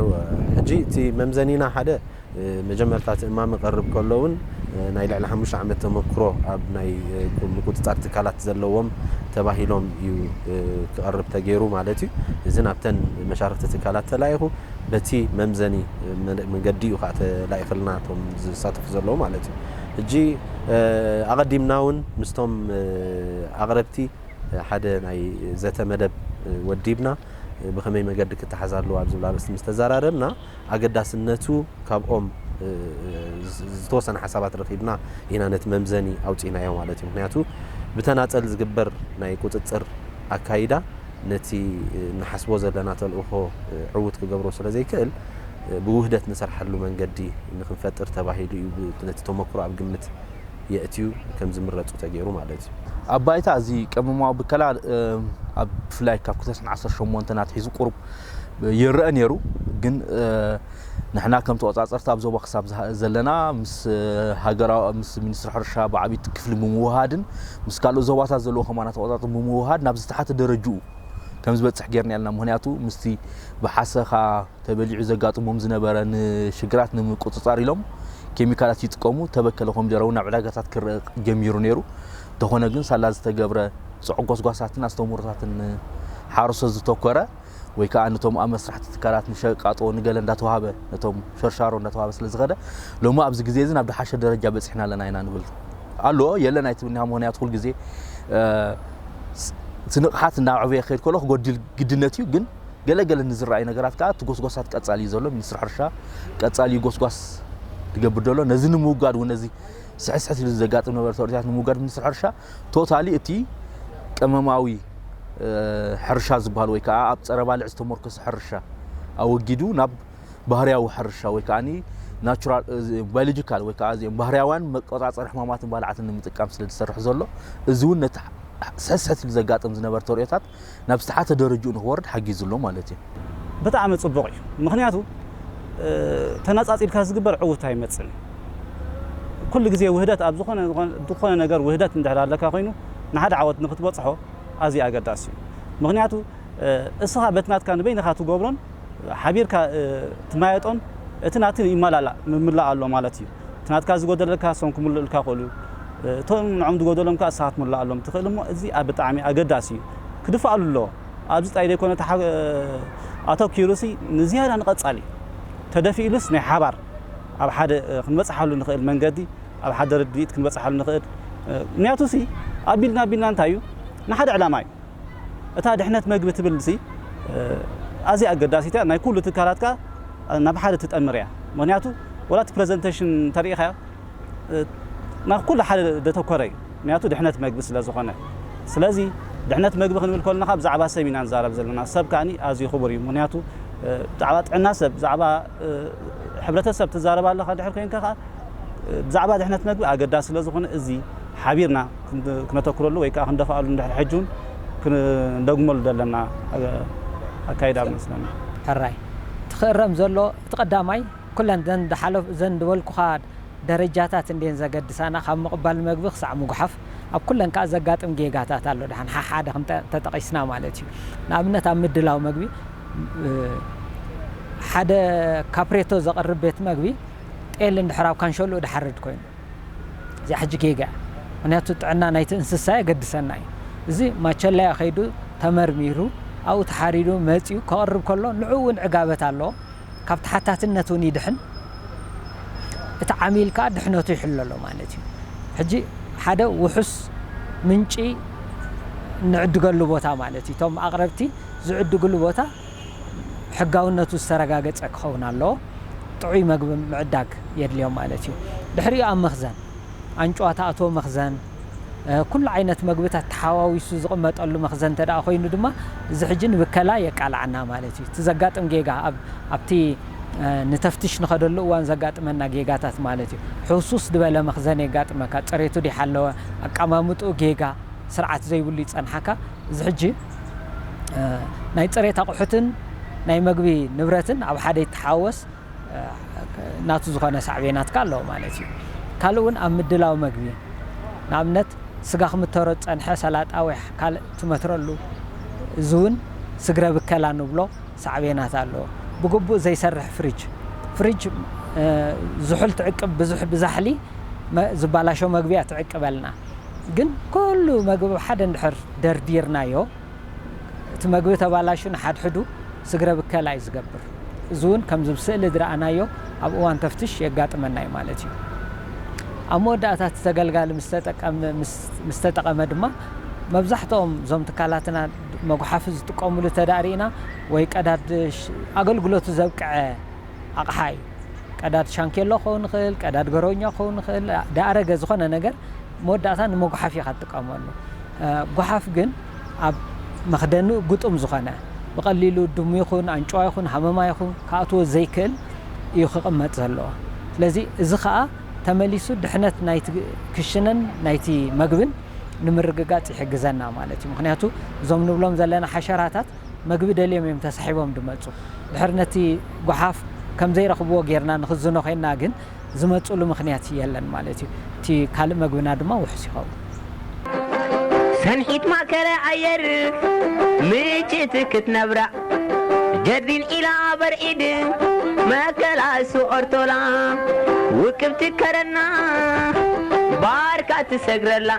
እወ ሕጂ እቲ መምዘኒና ሓደ መጀመርታ እቲ እማመ ክቐርብ ከሎ እውን ናይ ልዕሊ ሓሙሽተ ዓመት ተመክሮ ኣብ ናይ ምቁጽጻር ትካላት ዘለዎም ተባሂሎም እዩ ክቐርብ ተገይሩ ማለት እዩ። እዚ ናብተን መሻርኽቲ ትካላት ተላኢኹ በቲ መምዘኒ መንገዲ እዩ ከኣ ተላኢኽልና እቶም ዝሳተፉ ዘለዉ ማለት እዩ። ሕጂ ኣቐዲምና እውን ምስቶም ኣቕረብቲ ሓደ ናይ ዘተ መደብ ወዲብና። ብኸመይ መገዲ ክተሓዝ ኣለዎ ኣብ ዝብል ኣርእስቲ ምስ ተዘራረብና ኣገዳስነቱ ካብኦም ዝተወሰነ ሓሳባት ረኺብና ኢና ነቲ መምዘኒ ኣውጺእናዮ ማለት እዩ። ምኽንያቱ ብተናጸል ዝግበር ናይ ቁጽጽር ኣካይዳ ነቲ ንሓስቦ ዘለና ተልእኾ ዕዉት ክገብሮ ስለ ዘይክእል ብውህደት ንሰርሓሉ መንገዲ ንኽንፈጥር ተባሂሉ እዩ ነቲ ተመክሮ ኣብ ግምት የእትዩ ከምዝምረጹ ተገይሩ ማለት እዩ። ኣብ ባይታ እዚ ቀመማዊ ብከላ ኣብ ብፍላይ ካብ 2018 ኣትሒዙ ቁሩብ ይረአ ነይሩ ግን ንሕና ከም ተቆጻጸርቲ ኣብ ዞባ ክሳብ ዘለና ምስ ሃገራ ምስ ሚኒስትሪ ሕርሻ ብዓብይቲ ክፍሊ ብምውሃድን ምስ ካልኦት ዞባታት ዘለዎ ከማና ተቆጻጽ ብምውሃድ ናብ ዝተሓተ ደረጅኡ ከም ዝበጽሕ ጌርና ኢልና ምኽንያቱ ምስቲ ብሓሰኻ ተበሊዑ ዘጋጥሞም ዝነበረ ንሽግራት ንምቁጽጻር ኢሎም ኬሚካላት ይጥቀሙ ተበከለ ኮሚደረ እውን ናብ ዕዳጋታት ክረእ ጀሚሩ ነይሩ እንተኾነ ግን ሳላ ዝተገብረ ፅዑቅ ጎስጓሳትን ኣስተምህሮታትን ሓረሶት ዝተኮረ ወይ ከዓ ነቶም ኣብ መስራሕቲ ትካላት ንሸቃጦ ንገለ እንዳተዋሃበ ነቶም ሸርሻሮ እንዳተዋሃበ ስለ ዝኸደ ሎሚ ኣብዚ ግዜ እዚ ናብ ድሓሸ ደረጃ በፂሕና ኣለና ኢና ንብል ኣሎ የለን ኣይትብልኒያ ምክንያቱ ኩል ግዜ እቲ ንቕሓት እናዕበየ ክኸይድ ከሎ ክጎድል ግድነት እዩ ግን ገለገለ ንዝረኣዩ ነገራት ከዓ እቲ ጎስጓሳት ቀፃሊ እዩ ዘሎ ሚኒስትሪ ሕርሻ ቀፃሊ እዩ ጎስጓስ ትገብር ዘሎ ነዚ ንምውጋድ እውን ነዚ ስሕስሕት ኢሉ ዘጋጥም ነበረ ተወርታት ንምውጋድ ሚኒስትሪ ሕርሻ ቶታሊ እቲ ቀመማዊ ሕርሻ ዝበሃል ወይ ከዓ ኣብ ፀረ ባልዕ ዝተመርኮሰ ሕርሻ ኣወጊዱ ናብ ባህርያዊ ሕርሻ ወይ ከኣ ባዮሎጂካል ወይ ከኣ እዚኦም ባህርያውያን መቆጻጸሪ ሕማማትን ባልዓትን ንምጥቃም ስለ ዝሰርሕ ዘሎ እዚ እውን ነቲ ስሕስሕት ኢሉ ዘጋጥም ዝነበረ ተርእዮታት ናብ ዝተሓተ ደረጅኡ ንክወርድ ሓጊዙ ኣሎ ማለት እዩ። ብጣዕሚ ጽቡቕ እዩ ምኽንያቱ ተነጻጺልካ ዝግበር ዕውት ኣይመጽን እዩ ኩሉ ግዜ ውህደት ኣብ ዝኾነ ዝኾነ ነገር ውህደት እንድሕር ኣለካ ኮይኑ ንሓደ ዓወት ንክትበጽሖ ኣዝዩ ኣገዳሲ እዩ ምኽንያቱ እስኻ በቲ ናትካ ንበይንኻ ትገብሮን ሓቢርካ ትማየጦን እቲ ናቲ ይማላላእ ምምላእ ኣሎ ማለት እዩ እቲ ናትካ ዝጎደለካ እሶም ክምሉእልካ ይክእሉ እዩ እቶም ንዖም ዝጎደሎም ከኣ ንስካ ክትምልኣሎም ትክእል እሞ እዚ ብጣዕሚ ኣገዳሲ እዩ ክድፋኣሉ ኣለዎ ኣብዚ ጥራይ ዘይኮነ ኣተኪሩሲ ንዝያዳ ንቀጻሊ ተደፊእሉስ ናይ ሓባር ኣብ ሓደ ክንበጽሓሉ ንክእል መንገዲ ኣብ ሓደ ርድኢት ክንበጽሓሉ ንክእል ምክንያቱሲ ኣቢልና ኣቢልና እንታይ እዩ ንሓደ ዕላማ እዩ እታ ድሕነት መግቢ ትብልሲ ኣዝያ ኣገዳሲት እያ ናይ ኩሉ ትካላትካ ናብ ሓደ ትጠምር እያ ምክንያቱ ወላ እቲ ፕረዘንተሽን እንተሪኢኻዮ ናብ ኩሉ ሓደ ዘተኮረ እዩ ምክንያቱ ድሕነት መግቢ ስለ ዝኾነ ስለዚ ድሕነት መግቢ ክንብል ከለና ብዛዕባ ሰብ ኢና ንዛረብ ዘለና ሰብ ከዓኒ ኣዝዩ ክቡር እዩ ምክንያቱ ብዛዕባ ጥዕና ሰብ ብዛዕባ ሕብረተሰብ ትዛረብ ኣለኻ ድሕር ኮይንካ ከዓ ብዛዕባ ድሕነት መግቢ ኣገዳሲ ስለ ዝኾነ እዚ ሓቢርና ክነተኩረሉ ወይ ከኣ ክንደፋኣሉ እንድሕር ሕጂ ውን ክንደግመሉ ዘለና ኣካይዳ መስለኒ። ሕራይ እቲ ክእረም ዘሎ እቲ ቀዳማይ ኩለን እዘን ዝሓለፍ እዘን ዝበልኩኻ ደረጃታት እንድየን ዘገድሳና ካብ ምቕባል መግቢ ክሳዕ ምጉሓፍ ኣብ ኩለን ከኣ ዘጋጥም ጌጋታት ኣሎ ደሓን ሓሓደ እንተጠቒስና ማለት እዩ ንኣብነት ኣብ ምድላው መግቢ ሓደ ካፕሬቶ ዘቕርብ ቤት መግቢ ጤል እንድሕር ኣብ ካንሸሉኡ ድሓርድ ኮይኑ እዚኣ ሕጂ ጌጋ እያ ምክንያቱ ጥዕና ናይቲ እንስሳ የገድሰና እዩ እዚ ማቸለያ ከይዱ ተመርሚሩ ኣብኡ ተሓሪዱ መጺኡ ከቕርብ ከሎ ንዕኡ እውን ዕጋበት ኣለዎ ካብ ተሓታትነት እውን ይድሕን እቲ ዓሚል ከዓ ድሕነቱ ይሕሎ ኣሎ ማለት እዩ ሕጂ ሓደ ውሑስ ምንጪ ንዕድገሉ ቦታ ማለት እዩ እቶም ኣቕረብቲ ዝዕድግሉ ቦታ ሕጋውነቱ ዝተረጋገጸ ክኸውን ኣለዎ። ጥዑይ መግቢ ምዕዳግ የድልዮም ማለት እዩ። ድሕሪኡ ኣብ መኽዘን፣ ኣንጭዋ ትኣትዎ መኽዘን፣ ኩሉ ዓይነት መግብታት ተሓዋዊሱ ዝቕመጠሉ መኽዘን እንተድኣ ኮይኑ ድማ እዚ ሕጂ ንብከላ የቃልዓና ማለት እዩ። እቲ ዘጋጥም ጌጋ ኣብ ኣብቲ ንተፍትሽ ንኸደሉ እዋን ዘጋጥመና ጌጋታት ማለት እዩ። ሕውስውስ ድበለ መኽዘን የጋጥመካ፣ ጽሬቱ ደይሓለወ፣ ኣቀማምጥኡ ጌጋ፣ ስርዓት ዘይብሉ ይጸንሓካ። እዚ ሕጂ። ናይ ፅሬት ኣቑሑትን ናይ መግቢ ንብረትን ኣብ ሓደ ይተሓወስ ናቱ ዝኾነ ሳዕቤናት ከ ኣለዎ ማለት እዩ። ካልእ እውን ኣብ ምድላው መግቢ ንኣብነት ስጋ ክምተሮ ዝፀንሐ ሰላጣ ወይ ካልእ ትመትረሉ እዚ እውን ስግረ ብከላ ንብሎ ሳዕቤናት ኣለዎ። ብግቡእ ዘይሰርሕ ፍሪጅ ፍሪጅ ዝሑል ትዕቅብ ብዙሕ ብዛሕሊ ዝበላሾ መግቢ እያ ትዕቅበልና። ግን ኩሉ መግቢ ኣብ ሓደ እንድሕር ደርዲርናዮ እቲ መግቢ ተባላሹ ንሓድሕዱ ስግረ ብከላ እዩ ዝገብር። እዚ እውን ከምዚ ኣብ ስእሊ ዝረኣናዮ ኣብ እዋን ተፍትሽ የጋጥመና እዩ ማለት እዩ። ኣብ መወዳእታ እቲ ተገልጋሊ ምስ ተጠቐመ ድማ መብዛሕትኦም እዞም ትካላትና መጉሓፊ ዝጥቀምሉ እንተድኣ ሪኢና ወይ ቀዳድ ኣገልግሎቱ ዘብቅዐ ኣቕሓ እዩ። ቀዳድ ሻንኬሎ ክኸውን ይኽእል፣ ቀዳድ ገረውኛ ክኸውን ይኽእል፣ ደኣረገ ዝኾነ ነገር መወዳእታ ንመጉሓፊ ኢኻ ትጥቀመሉ። ጎሓፍ ግን ኣብ መኽደኒኡ ግጡም ዝኾነ ብቐሊሉ ድሙ ይኹን ኣንጭዋ ይኹን ሃመማ ይኹን ክኣትዎ ዘይክእል እዩ ክቕመጥ ዘለዎ። ስለዚ እዚ ከኣ ተመሊሱ ድሕነት ናይቲ ክሽነን ናይቲ መግብን ንምርግጋጽ ይሕግዘና ማለት እዩ። ምክንያቱ እዞም ንብሎም ዘለና ሓሸራታት መግቢ ደልዮም እዮም ተሳሒቦም ዝመጹ። ድሕሪ ነቲ ጎሓፍ ከም ዘይረኽብዎ ጌርና ንኽዝኖ ዄንና ግን፣ ዝመጹሉ ምኽንያት የለን ማለት እዩ። እቲ ካልእ መግብና ድማ ውሑስ ይኸውን። ሰንሒት ማእከለ ኣየር ምጭት ክትነብራ ጀርዲን ኢላ በርዒድ መከላሱ ኦርቶላ ውቅብ ትከረና ባርካ ትሰግረላ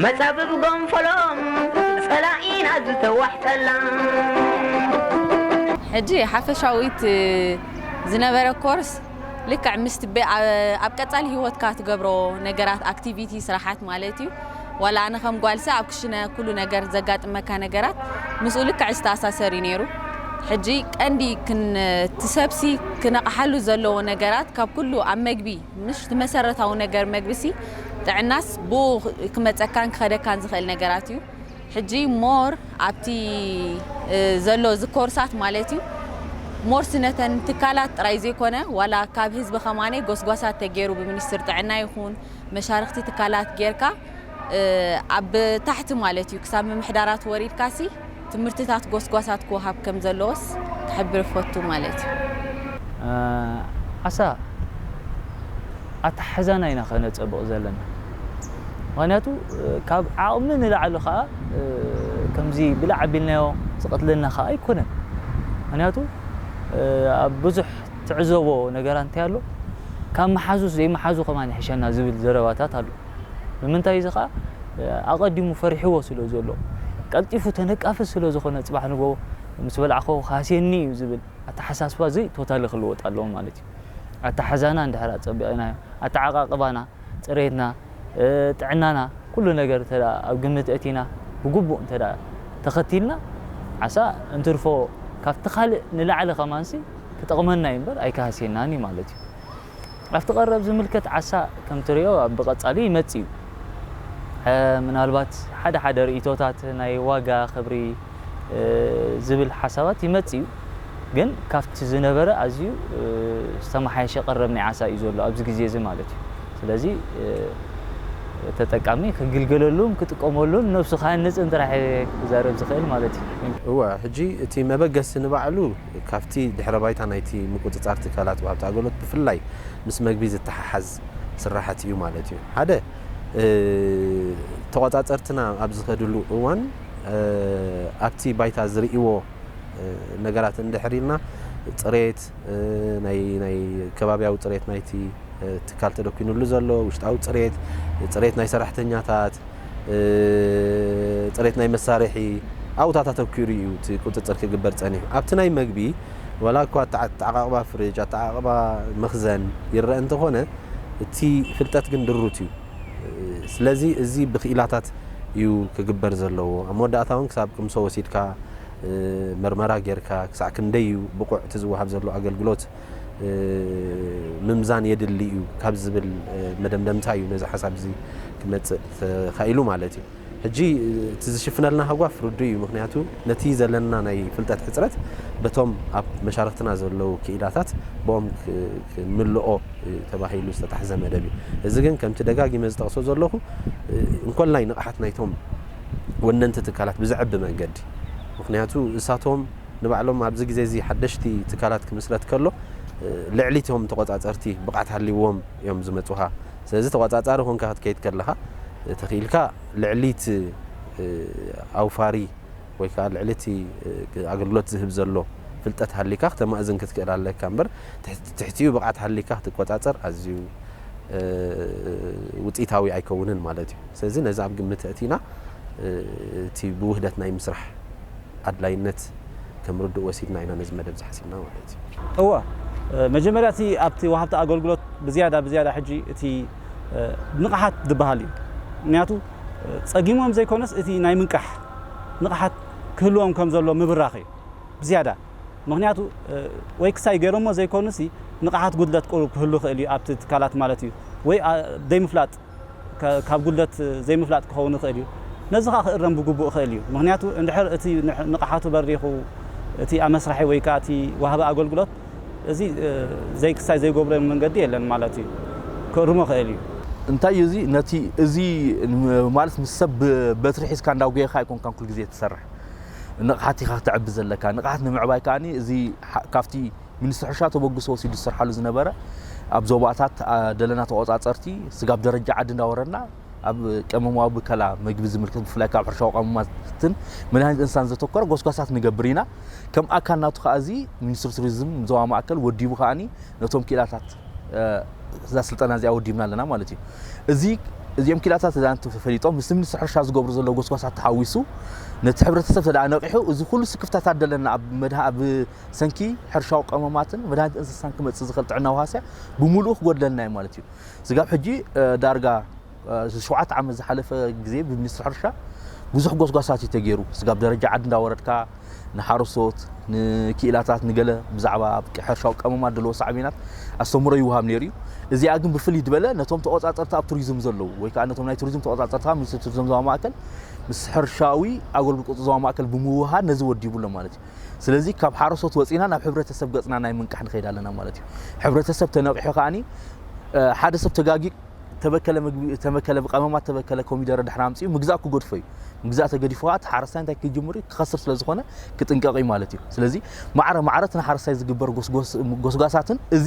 መጻብብ ጎንፎሎ ጸላኢና ዝተዋሕጠላ። ሕጂ ሓፈሻዊት ዝነበረ ኮርስ ልክዕ ምስቲ ብ ኣብ ቀጻሊ ሂወትካ ትገብሮ ነገራት ኣክቲቪቲ ስራሓት ማለት እዩ ዋላ ኣነ ከም ጓልሰ ኣብ ክሽነ ኩሉ ነገር ዘጋጥመካ ነገራት ምስኡ ልክዕ ዝተኣሳሰር እዩ ኔሩ ሕጂ ቀንዲ ክን እቲ ሰብሲ ክነቕሓሉ ዘለዎ ነገራት ካብ ኩሉ ኣብ መግቢ ምሽ እቲ መሰረታዊ ነገር መግቢሲ ጥዕናስ ብኡ ክመፀካን ክኸደካን ዝኽእል ነገራት እዩ ሕጂ ሞር ኣብቲ ዘሎ እዚ ኮርሳት ማለት እዩ ሞር ስነተን ትካላት ጥራይ ዘይኮነ ዋላ ካብ ህዝቢ ከማኔ ጎስጓሳት ተገይሩ ብሚኒስትር ጥዕና ይኹን መሻርክቲ ትካላት ጌርካ ኣብ ታሕቲ ማለት እዩ ክሳብ ምምሕዳራት ወሪድካሲ ትምህርትታት ጎስጓሳት ክወሃብ ከም ዘለዎስ ክሕብር እፈቱ ማለት እዩ። ኣሰ ኣተሓሕዛና ኢና ከነጸብቕ ዘለና ምኽንያቱ ካብ ዓቕሚ ንላዕሊ ከኣ ከምዚ ብላዕ ኣቢልናዮ ዝቐትለና ከኣ ኣይኮነን ምኽንያቱ ኣብ ብዙሕ ትዕዘቦ ነገራ እንታይ ኣሎ ካብ መሓዙስ ዘይመሓዙ ከማን ይሕሸና ዝብል ዘረባታት ኣሎ። ንምንታይ እዚ ከኣ ኣቀዲሙ ፈሪሕዎ ስለ ዘሎ ቀልጢፉ ተነቃፊ ስለ ዝኮነ ጽባሕ ንግሆ ምስ በላዕኩ ክሃስየኒ እዩ ዝብል ኣተሓሳስባ እዚ ቶታሊ ክልወጥ ኣለዎ ማለት እዩ ኣተሓሕዛና እንድሕር ኣጸቢቂናዮ ኣተዓቃቅባና ጽሬትና ጥዕናና ኩሉ ነገር እንተ ኣብ ግምት ኣእቲና ብግቡእ እንተ ተከቲልና ዓሳ እንትርፎ ካብቲ ካልእ ንላዕሊ ከማንሲ ክጠቅመና እዩ እምበር ኣይክሃስየናን እዩ ማለት እዩ። ኣብቲ ቀረብ ዝምልከት ዓሳ ከም ትሪኦ ኣብ ብቀጻሊ ይመጽእ እዩ። ምናልባት ሓደ ሓደ ርኢቶታት ናይ ዋጋ ክብሪ ዝብል ሓሳባት ይመጽእ እዩ። ግን ካብቲ ዝነበረ ኣዝዩ ዝተመሓየሸ ቀረብ ናይ ዓሳ እዩ ዘሎ ኣብዚ ግዜ እዚ ማለት እዩ። ስለዚ ተጠቃሚ ክግልገለሉን ክጥቀመሉን ነብሱ ክሃንጽን ጥራሕ እየ ክዛረብ ዝኽእል ማለት እዩ። እወ ሕጂ እቲ መበገሲ ንባዕሉ ካብቲ ድሕረ ባይታ ናይቲ ምቁጽጻር ትካላት ወሃብቲ ኣገልግሎት ብፍላይ ምስ መግቢ ዝተሓሓዝ ስራሓት ኢዩ ማለት ኢዩ። ሓደ ተቖጻጸርትና ኣብ ዝኸድሉ እዋን ኣብቲ ባይታ ዝርእይዎ ነገራት እንድሕር ኢልና ጽሬት ናይ ከባብያዊ ጽሬት ናይቲ ትካል ተደኲንሉ ዘሎ ውሽጣዊ ጽሬት፣ ጽሬት ናይ ሰራሕተኛታት፣ ፅሬት ናይ መሳርሒ ኣብኡታት ኣተኲሩ እዩ እቲ ቁፅፅር ክግበር ፀኒሑ። ኣብቲ ናይ መግቢ ዋላ እኳ ኣተዓቓቕባ ፍርጅ፣ ኣተዓቓቕባ መኽዘን ይረኣ እንተኾነ እቲ ፍልጠት ግን ድሩት እዩ። ስለዚ እዚ ብክኢላታት እዩ ክግበር ዘለዎ። ኣብ መወዳእታ እውን ክሳብ ቅምሶ ወሲድካ ምርመራ ገይርካ ክሳዕ ክንደይ እዩ ብቑዕ እቲ ዝወሃብ ዘሎ ኣገልግሎት፣ ምምዛን የድሊ እዩ ካብ ዝብል መደምደምታ እዩ ነዚ ሓሳብ እዚ ክመፅእ ተኻኢሉ ማለት እዩ። ሕጂ እቲ ዝሽፍነልና ሃጓፍ ርዱእ እዩ ምክንያቱ ነቲ ዘለና ናይ ፍልጠት ሕጽረት በቶም ኣብ መሻርክትና ዘለዉ ክኢላታት ብኦም ክምልኦ ተባሂሉ ዝተታሕዘ መደብ እዩ እዚ ግን ከምቲ ደጋጊመ ዝጠቕሶ ዘለኹ እንኮላይ ንቕሓት ናይቶም ወነንቲ ትካላት ብዘዕቢ መንገዲ ምክንያቱ እሳቶም ንባዕሎም ኣብዚ ግዜ እዚ ሓደሽቲ ትካላት ክምስረት ከሎ ልዕሊ እቶም ተቖጻጸርቲ ብቕዓት ሃልይዎም እዮም ዝመጹኻ። ስለዚ ተቖጻጻሪ ኮንካ ክትከይድ ከለኻ ተኺኢልካ ልዕሊ እቲ ኣውፋሪ ወይ ከኣ ልዕሊ እቲ ኣገልግሎት ዝህብ ዘሎ ፍልጠት ሃልይካ ክተማእዝን ክትክእል ኣለካ እምበር ትሕቲ ትሕቲኡ ብቕዓት ሃልይካ ክትቆጻጸር ኣዝዩ ውጽኢታዊ ኣይከውንን ማለት እዩ። ስለዚ ነዚ ኣብ ግምት ኣእቲና እቲ ብውህደት ናይ ምስራሕ። ኣድላይነት ከም ርዱእ ወሲድና ኢና ነዚ መደብ እዚ ሓሲብና ማለት እዩ። እወ፣ መጀመርያ እቲ ኣብቲ ወሃብቲ ኣገልግሎት ብዝያዳ ብዝያዳ ሕጂ እቲ ንቕሓት ዝበሃል እዩ። ምኽንያቱ ጸጊሞም ዘይኮነስ እቲ ናይ ምንቃሕ ንቕሓት ክህልዎም ከም ዘለዎ ምብራኽ እዩ ብዝያዳ። ምኽንያቱ ወይ ክሳይ ገይሮሞ ዘይኮኑሲ ንቕሓት ጉድለት ቁሩብ ክህሉ ይኽእል እዩ ኣብቲ ትካላት ማለት እዩ ወይ ዘይምፍላጥ። ካብ ጉድለት ዘይምፍላጥ ክኸውን ይኽእል እዩ። ነዚ ከኣ ክእረም ብግቡእ ይኽእል እዩ። ምኽንያቱ እንድሕር እቲ ንቕሓቱ በሪኹ እቲ ኣመስራሒ ወይ ከኣ እቲ ወሃቢ ኣገልግሎት እዚ ዘይክሳይ ዘይጎብረሉ መንገዲ የለን ማለት እዩ። ክእርሞ ይኽእል እዩ። እንታይ እዩ እዚ ነቲ እዚ ማለት ምስ ሰብ ብበትሪ ሒዝካ እንዳጎየኻ ኣይኮንካን ኩል ግዜ ትሰርሕ ንቕሓት ኢኻ ክተዕቢ ዘለካ ንቕሓት ንምዕባይ ከኣ እዚ ካብቲ ሚኒስትሪ ሕርሻ ተበግሶ ወሲዱ ዝስርሓሉ ዝነበረ ኣብ ዞባታት ደለና ተቆፃፀርቲ ስጋብ ደረጃ ዓዲ እንዳወረድና ኣብ ቀመማዊ ብከላ መግቢ ዝምልከት ብፍላይ ካብ ሕርሻዊ ቀመማትን መድሃኒት እንስሳን ዘተኮረ ጎስጓሳት ንገብር ኢና ከም ኣካል ናቱ ከዓ እዚ ሚኒስትሪ ቱሪዝም ዞባ ማእከል ወዲቡ ከዓኒ ነቶም ክኢላታት እዛ ስልጠና እዚኣ ወዲብና ኣለና ማለት እዩ እዚ እዚኦም ክኢላታት እዛ ተፈሊጦም ምስ ሚኒስትሪ ሕርሻ ዝገብሩ ዘሎ ጎስጓሳት ተሓዊሱ ነቲ ሕብረተሰብ ተደኣ ነቂሑ እዚ ኩሉ ስክፍታታት ደለና ኣብ መድሃ ኣብ ሰንኪ ሕርሻዊ ቀመማትን መድሃኒት እንስሳን ክመጽእ ዝኽእል ጥዕናዊ ሃስያ ብምሉኡ ክጎድለልና እዩ ማለት እዩ። ስጋብ ሕጂ ዳርጋ ሸውዓተ ዓመት ዝሓለፈ ግዜ ብሚኒስትሪ ሕርሻ ብዙሕ ጎስጓሳት እዩ ተገይሩ። ስጋብ ደረጃ ዓዲ እንዳወረድካ ንሓረስቶት ንክኢላታት ንገለ ብዛዕባ ሕርሻዊ ቀመማት ዘለዎ ሳዕቤናት ኣስተምህሮ ይወሃብ ነይሩ እዩ እዚኣ ግን ብፍልይ ዝበለ ነቶም ተቆፃፀርቲ ኣብ ቱሪዝም ዘለዉ ወይ ከዓ ነቶም ናይ ቱሪዝም ተቆፃፀርቲ ካብ ሚኒስትሪ ቱሪዝም ዞባ ማእከል ምስ ሕርሻዊ ኣገልግሎት ቁፅሪ ዞባ ማእከል ብምውሃድ ነዚ ወዲቡ ኣሎ ማለት እዩ ስለዚ ካብ ሓረሶት ወጺና ናብ ሕብረተሰብ ገጽና ናይ ምንቃሕ ንኸይድ ኣለና ማለት እዩ። ሕብረተሰብ ተነቂሑ ከኣኒ ሓደ ሰብ ተጋጊ ተበከለ ምግቢ ተበከለ ብቀመማት ተበከለ ኮሚደረ ድሕሪ ኣምጺኡ ምግዛእ ክገድፎ እዩ። ምግዛእ ተገዲፉ ከዓ እቲ ሓረስታይ እንታይ ክጅምር እዩ ክኸስር ስለ ዝኾነ ክጥንቀቕ እዩ ማለት እዩ። ስለዚ ማዕረ ማዕረ እቲ ንሓረስታይ ዝግበር ጎስጓሳትን እዚ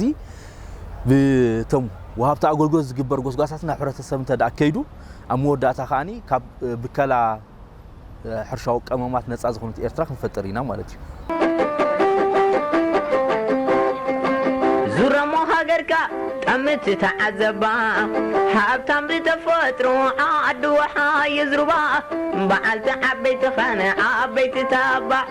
ብቶም ወሃብቲ ኣገልግሎት ዝግበር ጎስጓሳትን ናብ ሕብረተሰብ እንተ ከይዱ ኣብ መወዳእታ ከኣኒ ካብ ብከላ ሕርሻዊ ቀመማት ነፃ ዝኾነት ኤርትራ ክንፈጥር ኢና ማለት እዩ። ዙረሞ ሃገርካ ጠምት ተዓዘባ ሃብታም ብተፈጥሮ ዓዲ ወሓ የዝርባ በዓልቲ ዓበይቲ ኸነ ዓበይቲ ተባዕ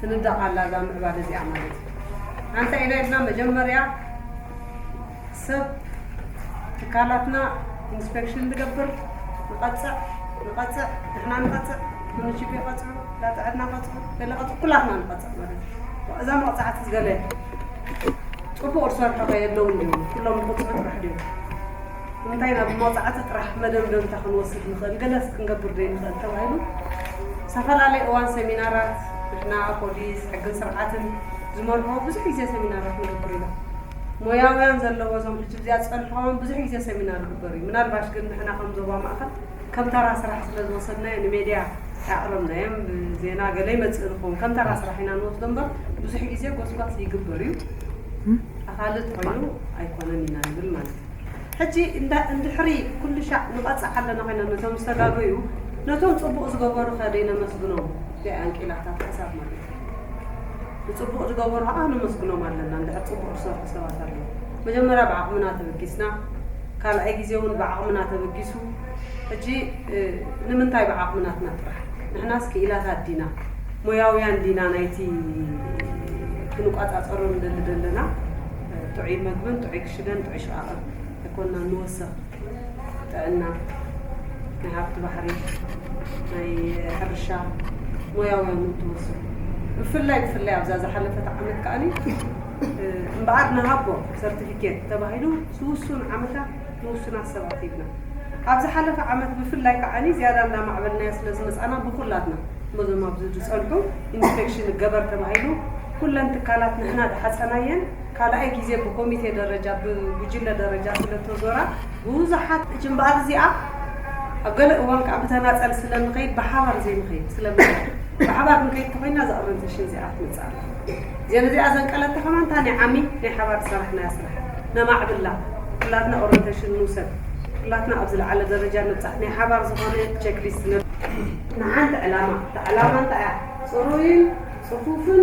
ትንዳቕ ኣላ እዛ ምዕባለ እዚኣ ማለት እዩ። ኣንታይ ኢና ኢልና መጀመርያ ሰብ ትካላትና ኢንስፔክሽን ንገብር፣ ንቐጽዕ ንቐጽዕ ንሕና ንቐጽዕ ምንሽቢ ይቐጽዑ፣ ዳጥዕና ቀጽዑ፣ ገለ ቀጽዑ፣ ኩላትና ንቐጽዕ ማለት እዩ። እዛ መቕጻዕቲ ገለ ጥቡቕ ዝሰርሑ ከ የለውን ድዮም? ኩሎም ንቕጽዑ ጥራሕ ድዮም? ንምንታይ ናብ መቕጻዕቲ ጥራሕ መደምደምታ ክንወስድ ንኽእል፣ ገለስ ክንገብር ዘይንኽእል ተባሂሉ ዝተፈላለየ እዋን ሰሚናራት ንሕና ፖሊስ፣ ሕግን ስርዓትን ዝመርሖ ብዙሕ ግዜ ሰሚናራት ንገብር ኢና። ሞያውያን ዘለዎ እዞም ሕጂ ብዚኣ ዝጸንሕካዎም ብዙሕ ግዜ ሰሚናር ይግበር እዩ። ምናልባሽ ግን ንሕና ከም ዞባ ማእከል ከም ተራ ስራሕ ስለ ዝወሰድናዮ ንሜድያ ኣየቕረብናዮን። ብዜና ገለ ይመጽእ ንኸውን ከም ተራ ስራሕ ኢና ንወስዶ እምበር ብዙሕ ግዜ ጎስጓስ ይግበር እዩ። ኣኻሊ ተኾይኑ ኣይኮነን ኢና ንብል ማለት እዩ። ሕጂ እንዳ እንድሕሪ ኩሉሻዕ ንቐጽዕ ኣለና ኮይና ነቶም ዝተጋገዩ ነቶም ጽቡቕ ዝገበሩ ከ ደይነመስግኖም ገይ ኣንቂላታት ሕሳብ ማለት እዩ ንጽቡቕ ድገበሩ ከኣ ነመስግኖም ኣለና እንድሕር ጽቡቕ ድሰርሑ ሰባት ኣለዉ መጀመርያ ብዓቕምና ተበጊስና ካልኣይ ግዜ ውን ብዓቕምና ተበጊሱ ሕጂ ንምንታይ ብዓቕምናትና ጥራሕ ንሕናስ ክኢላታት ዲና ሞያውያን ዲና ናይቲ ክንቆጻጸሮ ንደሊ ደለና ጥዑይ መግብን ጥዑይ ሽደን ጥዕሾ ዓቐብ ኣይኮናን ንወሰኽ ጥዕና ናይ ሃብቲ ባሕሪ ናይ ሕርሻ ሞያውያን እውን ትወስኹ ብፍላይ ብፍላይ ኣብዛ ዝሓለፈት ዓመት ከኣኒ እምበኣር ንሃቦ ሰርቲፊኬት ተባሂሉ ዝውሱን ዓመታት ንውሱናት ሰባት ሂብና ኣብ ዝሓለፈ ዓመት ብፍላይ ከዓኒ ዝያዳ እንዳማዕበልናያ ስለ ዝመፃና ብኩላትና ነዞም ኣብዚ ዝፀንሑ ኢንስፔክሽን ገበር ተባሂሉ ኩለን ትካላት ንሕና ድሓፀናየን ካልኣይ ግዜ ብኮሚቴ ደረጃ ብጉጅለ ደረጃ ስለእተዞራ ብብዙሓት። እች እምበኣር እዚኣ ኣብ ገለ እዋን ከኣ ብተናጸል ስለእንኸይድ ብሓባር ዘይንኸይድ ስለምንታይ ብሓባር ክንከይድ ተኾይንና እዛ ኦረንቴሽን እዚኣ ክትመጽእ ኣለዋ። እዚኣ ነዚኣ ዘንቀለታ ከማን እታ ናይ ዓሚ ናይ ሓባር ዝሰራሕናያ ስራሕ ነማዕብላ ኩላትና ኦረንቴሽን ንውሰድ ኩላትና ኣብ ዝለዓለ ደረጃ ንብጻሕ ናይ ሓባር ዝኾነ ቸክሊስት ንሓንቲ ዕላማ እታ ዕላማ እንታይ እያ ጽሩይን ጽፉፍን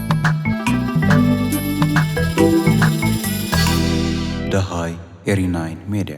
ደሃይ ኤሪናይን ሜድያ።